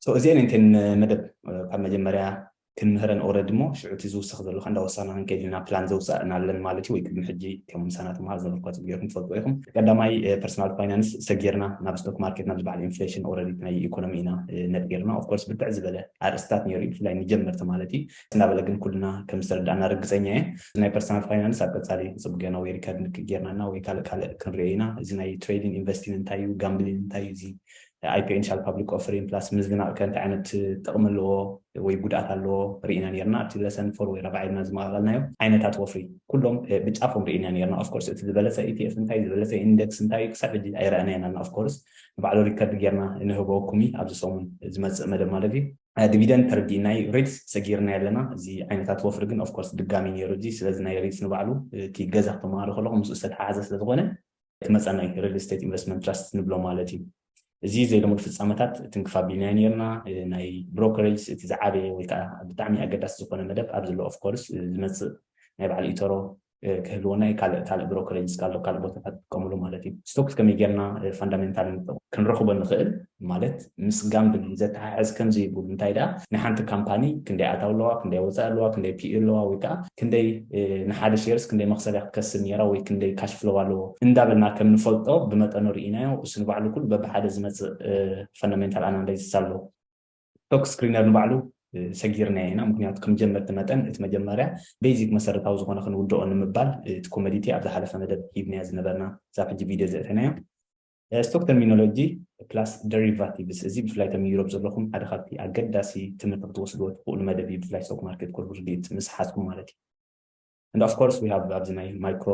So እዚኤን እየን እተን መደብ ካብ መጀመርያ ክንምህረን ኦረዲ እሞ ሽዑ እቲ ዝውስኽ ዘሎ ከ እንዳወሳና ክንከይድ ኢና ፕላን ዘውጻእናለን ማለት እዩ ወይ ቅድሚ ሕጂ ከም ምሳና ተምሃር ዘበልኳት ጌርኩም ትፈልጥዎ ኢኹም ቀዳማይ ፐርሰናል ፋይናንስ ሰጊርና ናብ ስቶክ ማርኬት ናብ ዝበዓል ኢንፍሌሽን ኦረዲ ናይ ኢኮኖሚ ኢና ነጢርና ኦፍኮርስ ብርትዕ ዝበለ ኣርእስታት ነይሩ እዩ ብፍላይ ንጀመርቲ ማለት እዩ እናበለ ግን ኩልና ከም ዝተረዳእና ርግጸኛ እየ። እዚ ናይ ፐርሰናል ፋይናንስ ኣብ ቀጻሊ ክጽብ ገና ወይ ሪከርድ ንክክ ጌርና እና ወይ ካልእ ካልእ ክንሪኦ ኢና። እዚ ናይ ትሬዲን ኢንቨስቲን እንታይ እዩ? ጋምብሊን እንታይ እዩ? እዚ ኣይፒኦ ኢንሻል ፓብሊክ ኦፍሪን ፕላስ ምዝናቕ ከ እንታይ ዓይነት ጥቕሚ ኣለዎ ወይ ጉድኣት ኣለዎ ርኢና ኔርና ኣብቲ ለሰን ፎር ወይ ራብዓይ ኢልና ዝመቓቐልናዮ ዓይነታት ወፍሪ ኩሎም ብጫፎም ርኢና ኔርና። ኦፍ ኮርስ እቲ ዝበለጸ ኢቲኤፍ እንታይ እዩ? ዝበለጸ ኢንደክስ እንታይ እዩ? ክሳብ ሕጂ ኣይረኣናዮን ኣና ኦፍ ኮርስ ንባዕሉ ሪከርድ ጌርና ንህበኩም እዪ ኣብዚ ሰሙን ዝመጽእ መደብ ማለት እዩ። ዲቪደንድ ተርዲ ናይ ሪትስ ሰጊርናዮ ኣለና እዚ ዓይነታት ወፍሪ ግን ኦፍኮርስ ድጋሚ ኔሩ እዚ ስለዚ ናይ ሪትስ ንባዕሉ እቲ ገዛ ክተማሃሩ ከለኹም ምስኡ ዝተተሓሓዘ ስለዝኾነ እቲ መጸናይ ሪል ስቴት ኢንቨስትመንት ትራስት ንብሎ ማለት እዩ እዚ ዘይልሙድ ፍጻመታት ትንክፍ ኣቢልናዮ ኔርና ናይ ብሮከሬጅስ እቲ ዝዓበየ ወይ ከዓ ብጣዕሚ ኣገዳሲ ዝኾነ መደብ ኣብዚ ኣሎ ኦፍኮርስ ዝመጽእ ናይ በዓል ኢቶሮ ክህልወና እዩ ካልእ ካልእ ብሮከሬጅ እስከ ኣሎ ካልእ ቦታታት ትጥቀምሉ ማለት እዩ ስቶክስ ከመይ ጌርና ፋንዳሜንታል ንጠቕ ክንረኽቦ ንኽእል ማለት ምስ ጋምብሊንግ ዘተሓሕዝ ከምዚ ይብሉ እንታይ ደኣ ናይ ሓንቲ ካምፓኒ ክንደይ ኣታው ኣለዋ ክንደይ ወፃኢ ኣለዋ ክንደይ ፒኢ ኣለዋ ወይ ከዓ ክንደይ ንሓደ ሼርስ ክንደይ መኽሰብ እያ ክትከስብ ነይራ ወይ ክንደይ ካሽ ፍሎው ኣለዎ እንዳበልና ከም ንፈልጦ ብመጠኑ ርኢናዮ እሱ ንባዕሉ ኩሉ በብሓደ ዝመፅእ ፋንዳሜንታል ኣናላይሲስ ኣሎ ስቶክ ስክሪነር ንባዕሉ ሰጊርናዮ ኢና ምክንያቱ ከም ጀመርቲ መጠን እቲ መጀመርያ ቤዚክ መሰረታዊ ዝኮነ ክንውድኦ ንምባል እቲ ኮመዲቲ ኣብ ዝሓለፈ መደብ ሂብናዮ ዝነበርና እዛ ሕጂ ቪድዮ ዘእተናዮ ስቶክ ተርሚኖሎጂ ፕላስ ደሪቫቲቭስ እዚ ብፍላይ እቶም ዩሮፕ ዘለኹም ሓደ ካብቲ ኣገዳሲ ትምህርቲ ክትወስድዎ ትኽእሉ መደብ እዩ ብፍላይ ስቶክ ማርኬት ኮርስ ርድኢት ምስ ሓዝኩም ማለት እዩ and of course we have ኣብዚ ናይ ማይክሮ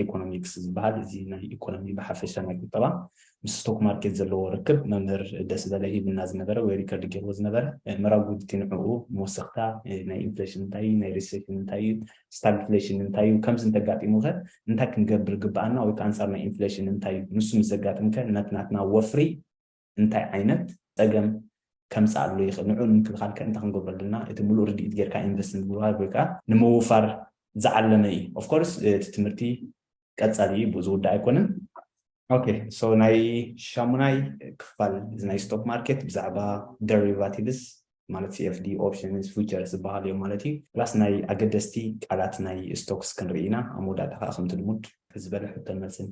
ኢኮኖሚክስ ዝበሃል እዚ ናይ ኢኮኖሚ ብሓፈሻ ናይ ቁጠባ ምስ ስቶክ ማርኬት ዘለዎ ርክብ መምህር ደስ በለ ሂብና ዝነበረ ወይ ሪከርድ ገይርዎ ዝነበረ ምራጉ ንዕኡ መወሰኽታ ናይ ኢንፍሌሽን እንታይ እዩ ናይ ሪሴሽን እንታይ እዩ ስታግፍሌሽን እንታይ እዩ ከምዚ እንተጋጢሙ ከ እንታይ ክንገብር ግብኣና ወይ ከዓ ኣንፃር ናይ ኢንፍሌሽን እንታይ እዩ ንሱ ምስ ዘጋጥም ከ ናትናትና ወፍሪ እንታይ ዓይነት ፀገም ከምፅኣሉ ይኽእል፣ ንዕኡ ንምክልኻል ከ እንታይ ክንገብሮ ኣለና፣ እቲ ሙሉእ ርድኢት ገይርካ ኢንቨስት ንምግባር ወይ ከዓ ንምውፋር ዝዓለመ እዩ። ኦፍ ኮርስ እቲ ትምህርቲ ቀፃሊ እዩ፣ ብኡ ዝውዳእ ኣይኮነን። ኦኬ ሶ ናይ ሻሙናይ ክፋል እዚ ናይ ስቶክ ማርኬት ብዛዕባ ደሪቫቲቭስ ማለት ሲኤፍዲ ኦፕሽንስ ፊውቸርስ ዝበሃሉ እዮም ማለት እዩ። ፕላስ ናይ ኣገደስቲ ቃላት ናይ ስቶክስ ክንርኢ ኢና። ኣብ መወዳእታ ከዓ ከምቲ ልሙድ ዝበለ ሕቶን መልስን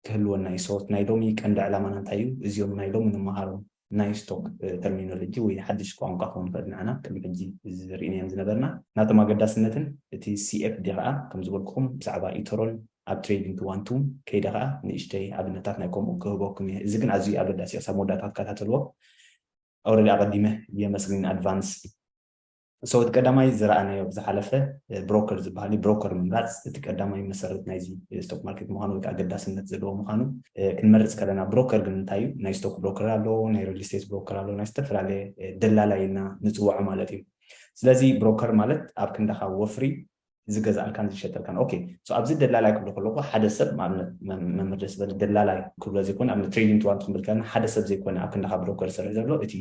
ክህልወና እዩ። ሰወት ናይ ሎሚ ቀንዲ ዕላማና እንታይ እዩ? እዚኦም ናይ ሎሚ ንመሃሮም ናይ ስቶክ ተርሚኖሎጂ ወይ ሓድሽ ቋንቋ ክኾኑ ይኽእል ንዓና ቅድሚ ሕጂ ዝርኢናዮም ዝነበርና ናቶም ኣገዳስነትን እቲ CFD ኸኣ ከም ዝበልኩኹም ብዛዕባ ኢቶሮን ኣብ ትሬዲንግ ክዋንቱም ከይደ ኸኣ ንእሽተይ ኣብነታት ናይ ከምኡ ክህበኩም እየ እዚ ግን ኣዝዩ ኣገዳሲ እዩ ክሳብ መወዳእታ ትከታተልዎ Already ኣቐዲመ የመስግን ኣድቫንስ። ሰወት ቀዳማይ ዝረኣናዮ ኣብ ዝሓለፈ ብሮከር ዝበሃል እዩ። ብሮከር ምምራፅ እቲ ቀዳማይ መሰረት ናይዚ ስቶክ ማርኬት ምዃኑ ወይ ከዓ ኣገዳስነት ዘለዎ ምዃኑ ክንመርፅ ከለና ብሮከር ግን እንታይ እዩ? ናይ ስቶክ ብሮከር ኣሎ፣ ናይ ሪል ስቴት ብሮከር ኣሎ፣ ናይ ዝተፈላለየ ደላላይ ኢልና ንፅወዖ ማለት እዩ። ስለዚ ብሮከር ማለት ኣብ ክንዳኻ ወፍሪ ዝገዝኣልካን ዝሸጠልካን ኦኬ ሶ ኣብዚ ደላላይ ክብሎ ከለኩ ሓደ ሰብ ንኣብነት መምህር ደስ በለ ደላላይ ክብሎ ዘይኮነ ኣብ ትሬዲንግ ትዋን ትክብል ከለና ሓደ ሰብ ዘይኮነ ኣብ ክንዳካ ብሮከር ዝሰርሕ ዘሎ እቲ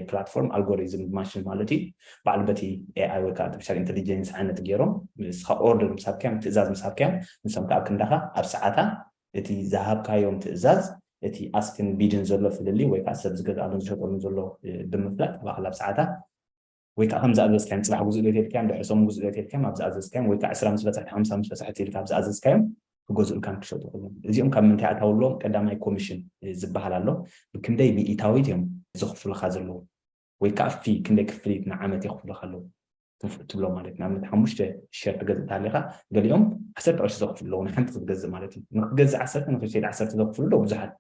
ፕላትፎርም ኣልጎሪዝም ማሽን ማለት እዩ በዓል በቲ ኤኣይ ወይ ከዓ ኣርቲፊሻል ኢንቴሊጀንስ ዓይነት ገይሮም ንስካ ኦርደር ምስ ሃብካዮም ትእዛዝ ምስ ሃብካዮም ንሶም ከዓ ኣብ ክንዳካ ኣብ ሰዓታ እቲ ዝሃብካዮም ትእዛዝ እቲ ኣስክን ቢድን ዘሎ ፍልልይ ወይ ከዓ ሰብ ዝገዝኣሉን ዝሸጠሉን ዘሎ ብምፍላጥ ባዕላ ኣብ ሰዓታ ወይ ከኣ ከም ዝኣዘዝካዮም ጽባሕ ግዝኡ ለይቲ ኢልካዮም ድሕሪ ሰሙን ግዝኡ ለይቲ ኢልካዮም ኣብ ዝኣዘዝካዮም ወይ ከኣ ዕስራ ምስ በጸሕቲ ሓምሳ ምስ በጸሕቲ ኢልካ ኣብ ዝኣዘዝካዮም ክገዝኡልካን ክሸጡ ከለዉን እዚኦም ካብ ምንታይ ኣታውሎም ቀዳማይ ኮሚሽን ዝበሃል ኣሎ ብክንደይ ሚኢታዊት እዮም ዘኽፍሉኻ ዘለዉ ወይ ከኣ ፊ ክንደይ ክፍሊት ንዓመት የኽፍሉኻ ኣለዉ ትብሎ ማለት ንኣብነት ሓሙሽተ ሸር ትገዝእ ተሃሊኻ ገሊኦም ዓሰርተ ቅርሺ ዘኽፍሉ ኣለዉ ንሓንቲ ክትገዝእ ማለት እዩ ንክትገዝእ ዓሰርተ ንክትሸይድ ዓሰርተ ዘኽፍሉ ኣለዉ ብዙሓት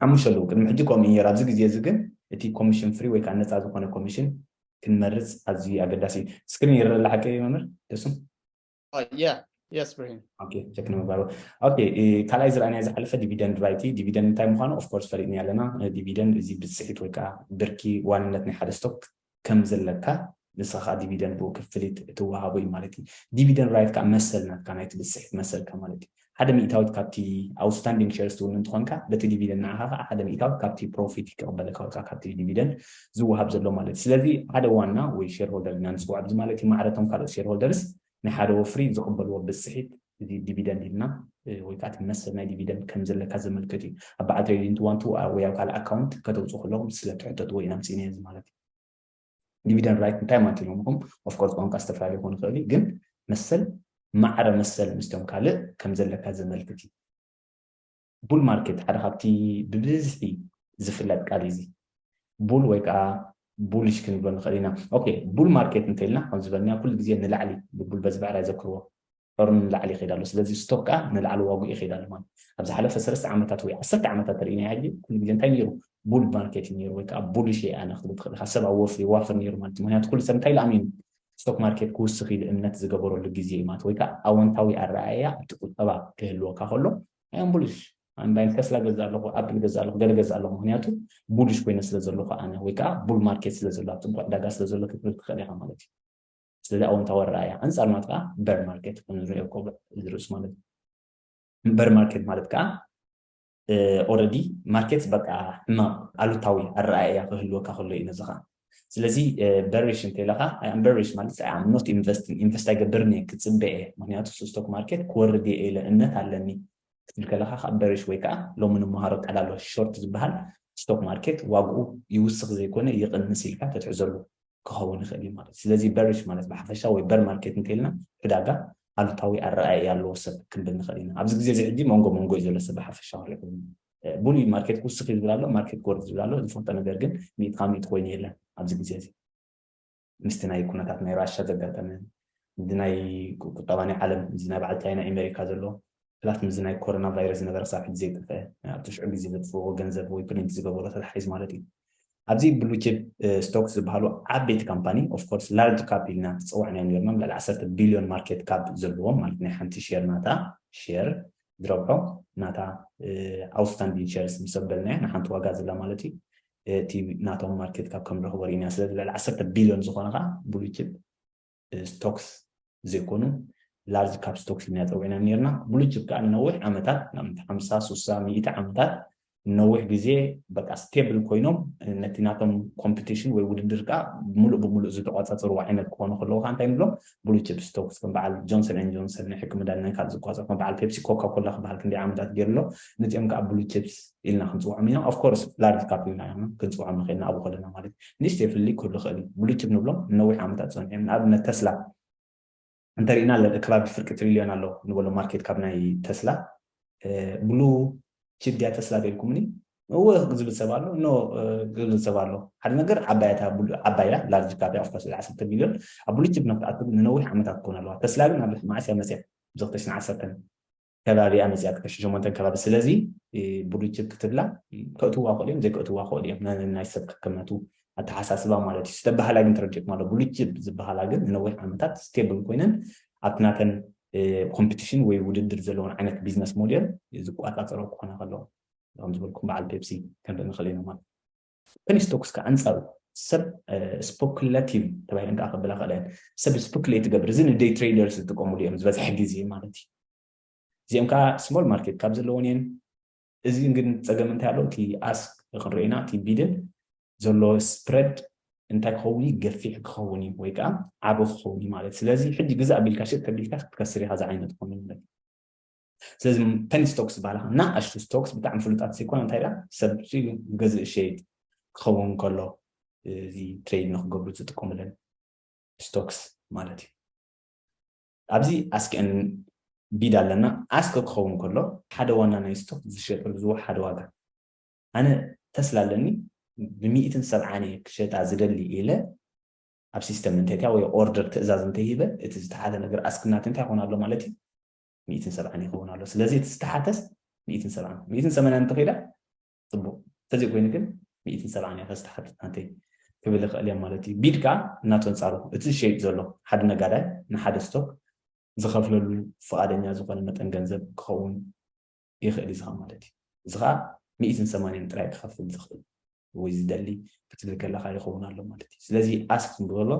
ሓሙሽተ ኣለዉ። ቅድሚ ሕጂ ከምኡ እዩ ነይሩ፣ ኣብዚ ግዜ እዚ ግን እቲ ኮሚሽን ፍሪ ወይ ከኣ ነጻ ዝኾነ ኮሚሽን ክንመርጽ ኣዝዩ ኣገዳሲ እዩ። ስክሪን ይርእ ኣሎ ሓቀይ እዩ መምህር ደሱ? Yeah, yes ብርሂን። ኦኬ ቸክ ንምግባር ኦኬ ካልኣይ ዝረኣናዮ ዝሓለፈ ዲቪደንድ ራይት እዩ ዲቪደንድ እንታይ ምዃኑ ኦፍኮርስ ፈሊጥናዮ ኣለና ዲቪደንድ እዚ ብጽሒት ወይ ከዓ ብርኪ ዋንነት ናይ ሓደ ስቶክ ከም ዘለካ ንስካ ከኣ ዲቪደን ብኡ ክፍሊት እትወሃቦ እዩ ማለት እዩ። ዲቪደን ራይት ከኣ መሰል ናትካ ናይቲ ብዝጽሒት መሰልካ ማለት እዩ። ሓደ ሚእታዊት ካብቲ ኣውትስታንዲንግ ሸርስ ትውንን እንተኮንካ በቲ ዲቪደን ንዓካ ከኣ ሓደ ሚእታዊት ካብቲ ፕሮፊት ክቅበለካ ወይ ከኣ ካብቲ ዲቪደን ዝወሃብ ዘሎ ማለት እዩ። ስለዚ ሓደ ዋና ወይ ሸርሆልደር ኢልና ንጽውዖ ብዚ ማለት እዩ ማዕረ እቶም ካልኦት ሸርሆልደርስ ናይ ሓደ ወፍሪ ዝቕበልዎ ብጽሒት እዚ ዲቪደንድ ኢልና ወይ ከኣ እቲ መሰል ናይ ዲቪደንድ ከም ዘለካ ዘመልክት እዩ። ኣብ በዓል ትሬዲንግ ቱ ዋን ቱ ወይ ኣብ ካልእ ኣካውንት ከተውጽኡ ከለኹም ስለ እትሕተትዎ ኢና ኣምጺእናዮ እዚ ማለት እዩ። ዲቪደንድ ራይት እንታይ ማለት እዩ ኢሎምኹም ኦፍ ኮርስ ቋንቋ ዝተፈላለየ ክኸውን ይኽእል እዩ ግን መሰል ማዕረ መሰል ምስቶም ካልእ ከም ዘለካ ዘመልክት እዩ። ቡል ማርኬት ሓደ ካብቲ ብብዝሒ ዝፍለጥ ቃል እዩ እዚ ቡል ወይ ከዓ ቡሊሽ ክንብሎ ንኽእል ኢና ኦኬ ቡል ማርኬት እንተኢልና ከም ዝበልናዮ ኩሉ ግዜ ንላዕሊ ብቡል በዚ ብዕራይ ዘክርዎ ዑርን ንላዕሊ ይኸይድ ኣሎ ስለዚ ስቶክ ከዓ ንላዕሊ ዋግኡ ይኸይድ ኣሎ ማለት ኣብ ዝሓለፈ ሰለስተ ዓመታት ወይ ዓሰርተ ዓመታት ተርእናዮ ሕጂ ኩሉ ግዜ እንታይ ነይሩ ቡል ማርኬት እዩ ነይሩ ወይ ከዓ ቡሊሽ እየ ኣነ ክትብል ትኽእል ኢኻ ሰብ ኣብ ወፍሪ ይዋፍር ነይሩ ማለት እዩ ምክንያቱ ኩሉ ሰብ እንታይ ኢሉ ኣሚኑ ስቶክ ማርኬት ክውስኽ ኢሉ እምነት ዝገበረሉ ግዜ እዩ ማለት ወይ ከዓ ኣወንታዊ ኣረኣእያ ኣብቲ ቁጠባ ክህልወካ ከሎ ኣይ ኣም ቡሊሽ ኣንዳይን ተስላ ገዛ ኣለኹ ኣፕል ገዛ ኣለኹ ገለ ገዛ ኣለኹ ምክንያቱ ቡሊሽ ኮይነ ስለ ዘለኹ ኣነ ወይ ከዓ ቡል ማርኬት ስለ ዘሎ ኣብ ፅቡቅ ዕዳጋ ስለ ዘሎ ክትብል ትኽእል ኢኻ ማለት እዩ ስለዚ ኣወንታዊ ኣረኣእያ ኣንፃር ማለት ከዓ በር ማርኬት ንሪኦ ኮብዕ ዝርእሱ ማለት እዩ በር ማርኬት ማለት ከዓ ኦረዲ ማርኬት በቃ ሕማቅ ኣሉታዊ ኣረኣእያ ክህልወካ ከሎ እዩ ነዚ ከዓ ስለዚ በሪሽ እንተኢለኻ ኣም በሪሽ ማለት ኣም ኖት ኢንቨስቲንግ ኢንቨስት ኣይገብርን እየ ክፅበ እየ ምክንያቱ ስቶክ ማርኬት ክወርድ እየ ኢለ እምነት ኣለኒ ክትብል ከለኻ ካብ በሪሽ ወይ ከዓ ሎሚ ንምሃሮ ቃል ኣሎ ሾርት ዝበሃል ስቶክ ማርኬት ዋግኡ ይውስኽ ዘይኮነ ይቕንስ ኢልካ ተትሕዘሉ ክኸውን ይኽእል እዩ ማለት ስለዚ በሪሽ ማለት ብሓፈሻ ወይ በር ማርኬት እንተኢልና ዕዳጋ ኣሉታዊ ኣረኣእያ ኣለዎ ሰብ ክንብል ንኽእል ኢና ኣብዚ ግዜ እዚ ሕጂ መንጎ መንጎ እዩ ዘሎ ሰብ ብሓፈሻ ክሪኦ ብሉይ ማርኬት ክውስኽ እዩ ዝብል ኣሎ፣ ማርኬት ክወርድ ዝብል ኣሎ፣ ዝፈልጦ ነገር ግን ሚእቲ ካብ ሚእቲ ኮይኑ የለን ኣብዚ ግዜ እዚ። ምስቲ ናይ ኩነታት ናይ ራሻ ዘጋጠመ፣ እዚ ናይ ቁጠባ ናይ ዓለም፣ እዚ ናይ በዓል ቻይና ኤመሪካ ዘሎ፣ ፕላስ ምስዚ ናይ ኮሮና ቫይረስ ዝነበረ ክሳብ ሕጂ ዘይጠፍአ፣ ኣብቲ ሽዑ ግዜ ዘጥፍእዎ ገንዘብ ወይ ፕሪንት ዝገበሮ ተታሒዙ ማለት እዩ። ኣብዚ ብሉ ቺፕ ስቶክስ ዝበሃሉ ዓበይቲ ካምፓኒ ኦፍ ኮርስ ላርጅ ካፕ ኢልና ዝጸዋዕናዮም ኔርና፣ ልዕሊ ዓሰርተ ቢልዮን ማርኬት ካፕ ዘለዎም ማለት ናይ ሓንቲ ሼር ናታ ሼር ዝረብሖ ናታ ኣውትስታንዲን ሸርስ ምስ ኣበልናያ ንሓንቲ ዋጋ ዘላ ማለት እዩ እቲ ናቶም ማርኬት ካብ ከም ንረኽቦ ርኢና ስለዚ ልዕሊ ዓሰርተ ቢልዮን ዝኾነ ከዓ ብሉይ ችፕ ስቶክስ ዘይኮኑ ላርጅ ካፕ ስቶክስ ኢልና ፀዊዕናም ነርና ብሉይ ችፕ ከዓ ንነዊሕ ዓመታት ንኣብነት ሓምሳ ሱሳ ሚእቲ ዓመታት ንነዊሕ ግዜ በቃ ስቴብል ኮይኖም ነቲ ናቶም ኮምፕቲሽን ወይ ውድድር ከኣ ምሉእ ብምሉእ ዝተቋጻጸርዎ ዓይነት ክኾኑ ከለዉ ከኣ እንታይ ንብሎም ብሉ ቺፕስ ቶክስ ከም በዓል ጆንሰን ኤንድ ጆንሰን ናይ ሕክም መድሃኒት ናይ ካልእ ዝቋጸር ከም በዓል ፔፕሲ ኮካ ኮላ ክበሃል ክንደይ ዓመታት ገይሩ ኣሎ ነዚኦም ከኣ ብሉ ቺፕስ ኢልና ክንጽውዖም ኢና ኦፍ ኮርስ ላርጅ ካፕ ኢልና ኢና ክንጽውዖም ንኽእል ንኣብኡ ከለና ማለት እዩ ንእሽተይ ፍልልይ ክህሉ ይኽእል እዩ ብሉ ቺፕ ንብሎም ንነዊሕ ዓመታት ጸኒሖም ንኣብነት ተስላ እንተሪእና ከባቢ ፍርቂ ትሪልዮን ኣሎ ንበሎ ማርኬት ካብ ናይ ተስላ ብሉ ቺፕ ድያ ተስላ በልኩምኒ እወ ዝብል ሰብ ኣሎ ኖ ዝብል ሰብ ኣሎ ሓደ ነገር ዓባያ እታ ዓባይ እያ ላርጅ ካፕ እያ ኦፍኮርስ ዓሰርተ ቢልዮን ኣብ ብሉ ቺፕ ንክትኣቱ ንነዊሕ ዓመታት ክኾን ኣለዋ ተስላ ግን ኣብ መዓስ እያ መፅያ ብዘክተሽን ዓሰርተን ከባቢ እያ መጺኣ ክተሽት ሸሞንተ ከባቢ ስለዚ ብሉጭ ክትብላ ከእትዋ ይኽእሉ እዮም ዘይከእትዋ ይኽእሉ እዮም ነናይ ሰብ ከከምናቱ ኣተሓሳስባ ማለት እዩ ዝተባሃላ ግን ተረዲእኩም ኣሎ ብሉጭ ዝበሃላ ግን ንነዊሕ ዓመታት ስቴብል ኮይነን ኣብቲ ናተን ኮምፒቲሽን ወይ ውድድር ዘለዎን ዓይነት ቢዝነስ ሞዴል ዝቋፃፀሮ ክኾና ከለዎ ከም ዝበልኩም በዓል ፔፕሲ ከንርኢ ንኽእል ኢና ማለት ሱፐኒ ስቶክስ ከኣ ኣንጻሩ ሰብ ስፖክለቲቭ ተባሂለን ከኣ ከብላ ይኽእላ እየን። ሰብ ስፕኩሌት ዝገብር እዚ ንደይ ትሬደርስ ዝጥቀሙሉ እዮም ዝበዝሐ ግዜ ማለት እዩ። እዚኦም ከኣ ስሞል ማርኬት ካብ ዘለወን እየን። እዚ ግን ጸገም እንታይ ኣሎ እቲ ኣስክ ክንሪኦ ኢና እቲ ቢድን ዘሎ ስፕረድ እንታይ ክኸውን እዩ ገፊሕ ክኸውን እዩ ወይ ከዓ ዓቢ ክኸውን እዩ ማለት ስለዚ ሕጂ ግዛእ ቢልካ ሽጥ ተቢልካ ክትከስር ኢኻ ዝዓይነት ኮይኑ ማለት ስለዚ ፐኒ ስቶክስ ዝበሃላ ከኣ ናኣሽቱ ስቶክስ ብጣዕሚ ፍሉጣት ዘይኮና እንታይ ደኣ ሰብ ዝገዝእ ዝሸይጥ ክኸውን ከሎ እዚ ትሬድ ንክገብሩ ዝጥቀሙለን ስቶክስ ማለት እዩ ኣብዚ ኣስክን ቢድ ኣለና ኣስክ ክኸውን ከሎ ሓደ ዋና ናይ ስቶክ ዝሸጠሉ ዝወ ሓደ ዋጋ ኣነ ተስላ ኣለኒ ብሚእትን ሰብዓን እየ ክሸጣ ዝደሊ ኢለ ኣብ ሲስተም እንተይታ ወይ ኦርደር ትእዛዝ እንተይሂበ እቲ ዝተሓተ ነገር ኣስክናት እንታይ ይኾን ኣሎ ማለት እዩ ሚእትን ሰብዓን ይኸውን ኣሎ ስለዚ እቲ ዝተሓተስ ሚእትን ሰብዓን ሚእትን ሰመናን እንተኺኢላ ፅቡቅ ተዘይ ኮይኑ ግን ሚእትን ሰብዓን እያ ከዝተሓት ኣንተይ ክብል ይኽእል እዮም ማለት እዩ ቢድ ከዓ እናተንፃሩ እቲ ዝሸይጥ ዘሎ ሓደ ነጋዳይ ንሓደ ስቶክ ዝኸፍለሉ ፍቓደኛ ዝኾነ መጠን ገንዘብ ክኸውን ይኽእል እዩ ዝኻ ማለት እዩ እዚ ከዓ ሚእትን ሰማንያን ጥራይ ክኸፍል ዝኽእል ወይ ዝደሊ ክትብል ከለካ ይኸውን ኣሎ ማለት እዩ ስለዚ ኣስክ ክንብሎ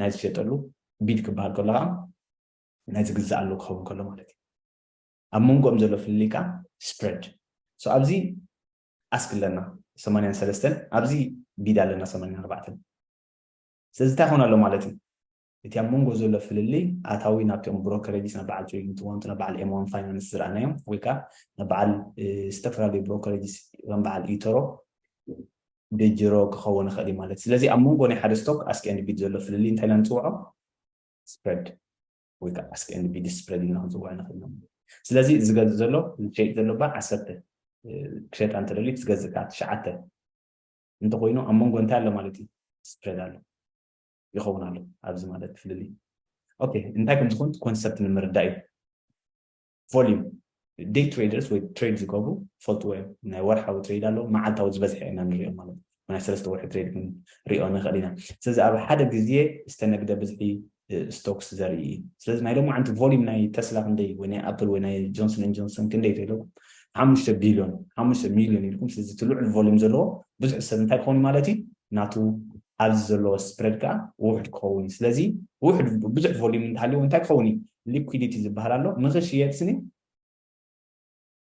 ናይ ዝሸጠሉ ቢድ ክበሃል ከሎ ከዓ ናይ ዝግዛእ ኣሎ ክኸውን ከሎ ማለት እዩ ኣብ መንጎኦም ዘሎ ፍልልይ ከኣ ስፕረድ ሶ ኣብዚ ኣስክ ኣለና ሰማንያን ሰለስተን ኣብዚ ቢድ ኣለና ሰማንያን ኣርባዕተን ስለዚ እንታይ ኾን ኣሎ ማለት እዩ እቲ ኣብ መንጎ ዘሎ ፍልልይ ኣታዊ ናብቲኦም ብሮከረጅስ ናብ በዓል ትሪሊንት ዋንቱ ናብ በዓል ኤም ዋን ፋይናንስ ዝረኣናዮም ወይ ከዓ ናብ በዓል ዝተፈላለዩ ብሮከረጅስ ከም በዓል ኢተሮ ብጅሮ ክኸውን ይኽእል ማለት ስለዚ ኣብ መንጎ ናይ ሓደ ስቶክ ኣስኪ ኣንድ ቢድ ዘሎ ፍልልይ እንታይ ኢና ንፅውዖ ስፕረድ ወይ ከዓ ኣስክ ኤንድ ቢዲ ስፕረድ ኢልና ክንፅውዖ ንኽእል ኢና ስለዚ እዚ ዝገዝእ ዘሎ ዝሸይጥ ዘሎ ባ ዓሰርተ ክሸጣ እንተደልዩ ዝገዝእ ከዓ ትሽዓተ እንተኮይኑ ኣብ መንጎ እንታይ ኣሎ ማለት እዩ ስፕረድ ኣሎ ይኸውን ኣሎ ኣብዚ ማለት ፍልልይ ኦኬ እንታይ ከም ዝኾን ኮንሰፕት ንምርዳእ እዩ ቮሊም ደይ ትሬደርስ ወይ ትሬድ ዝገብሩ ፈልጥዎ እዮም ናይ ወርሓዊ ትሬድ ኣለዎ መዓልታዊ ዝበዝሐ ኢና ንሪኦ ማለት እዩ ናይ ሰለስተ ወርሒ ትሬድ ክንሪኦ ንኽእል ኢና ስለዚ ኣብ ሓደ ግዜ ዝተነግደ ብዝሒ ስቶክስ ዘርኢ እዩ ስለዚ ናይ ሎሚ ዓንቲ ቮሊም ናይ ተስላ ክንደይ ወይ ናይ ኣፕል ወይ ናይ ጆንሰን ን ጆንሰን ክንደይ ተኢለኩም ሓሙሽተ ቢልዮን ሓሙሽተ ሚልዮን ኢልኩም ስለዚ እቲ ልዑል ቮሊም ዘለዎ ብዙሕ ሰብ እንታይ ክኸውን ማለት እዩ ናቱ ኣብዚ ዘሎ ስፕረድ ከኣ ውሑድ ክኸውን እዩ። ስለዚ ውሑድ ብዙሕ ቮልዩም እንተሃልይዎ እንታይ ክኸውን እዩ? ሊኲዲቲ ዝበሃል ኣሎ። ንኽሽየጥ ስኒ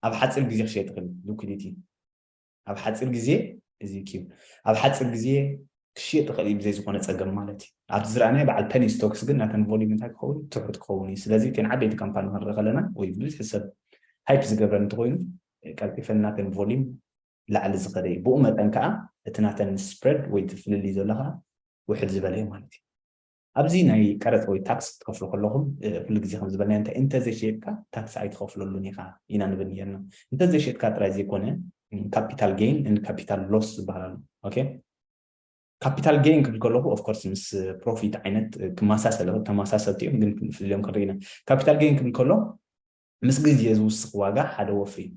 ኣብ ሓጺር ግዜ ክሽየጥ ይኽእል እዩ። ሊኲዲቲ ኣብ ሓጺር ግዜ እዚ ኪው ኣብ ሓጺር ግዜ ክሽየጥ ይኽእል እዩ ብዘይ ዝኾነ ጸገም ማለት እዩ። ኣብቲ ዝረኣናዮ በዓል ፐኒ ስቶክስ ግን ናተን ቮልዩም እንታይ ክኸውን እዩ? ትሑት ክኸውን እዩ። ስለዚ እተን ዓበይቲ ካምፓኒ ክንርኢ ከለና ወይ ብዝሒ ሰብ ሃይፕ ዝገብረን እንተኾይኑ ቀልጢፈን ናተን ቮልዩም ላዕሊ ዝኸደ እዩ። ብኡ መጠን ከኣ እቲ ናተን ስፕረድ ወይ እቲ ፍልልይ ዘሎ ከኣ ውሕድ ዝበለ እዩ ማለት እዩ። ኣብዚ ናይ ቀረጽ ወይ ታክስ ክትከፍሉ ከለኹም ኩሉ ግዜ ከም ዝበልናዮ እንታይ እንተ ዘይሸየጥካ ታክስ ኣይትኸፍለሉን ኢኻ ኢና ንብል ኔርና። እንተ ዘይሸጥካ ጥራይ ዘይኮነ ካፒታል ጌይን ን ካፒታል ሎስ ዝበሃል ኣሎ። ኦኬ ካፒታል ጌይን ክብል ከለኹ ኦፍ ኮርስ ምስ ፕሮፊት ዓይነት ክመሳሰል ይኽእል ተመሳሰልቲ እዮም ግን ክንፍልዮም ክንርኢ ኢና። ካፒታል ጌይን ክብል ከሎ ምስ ግዜ ዝውስኽ ዋጋ ሓደ ወፍሪ እዩ።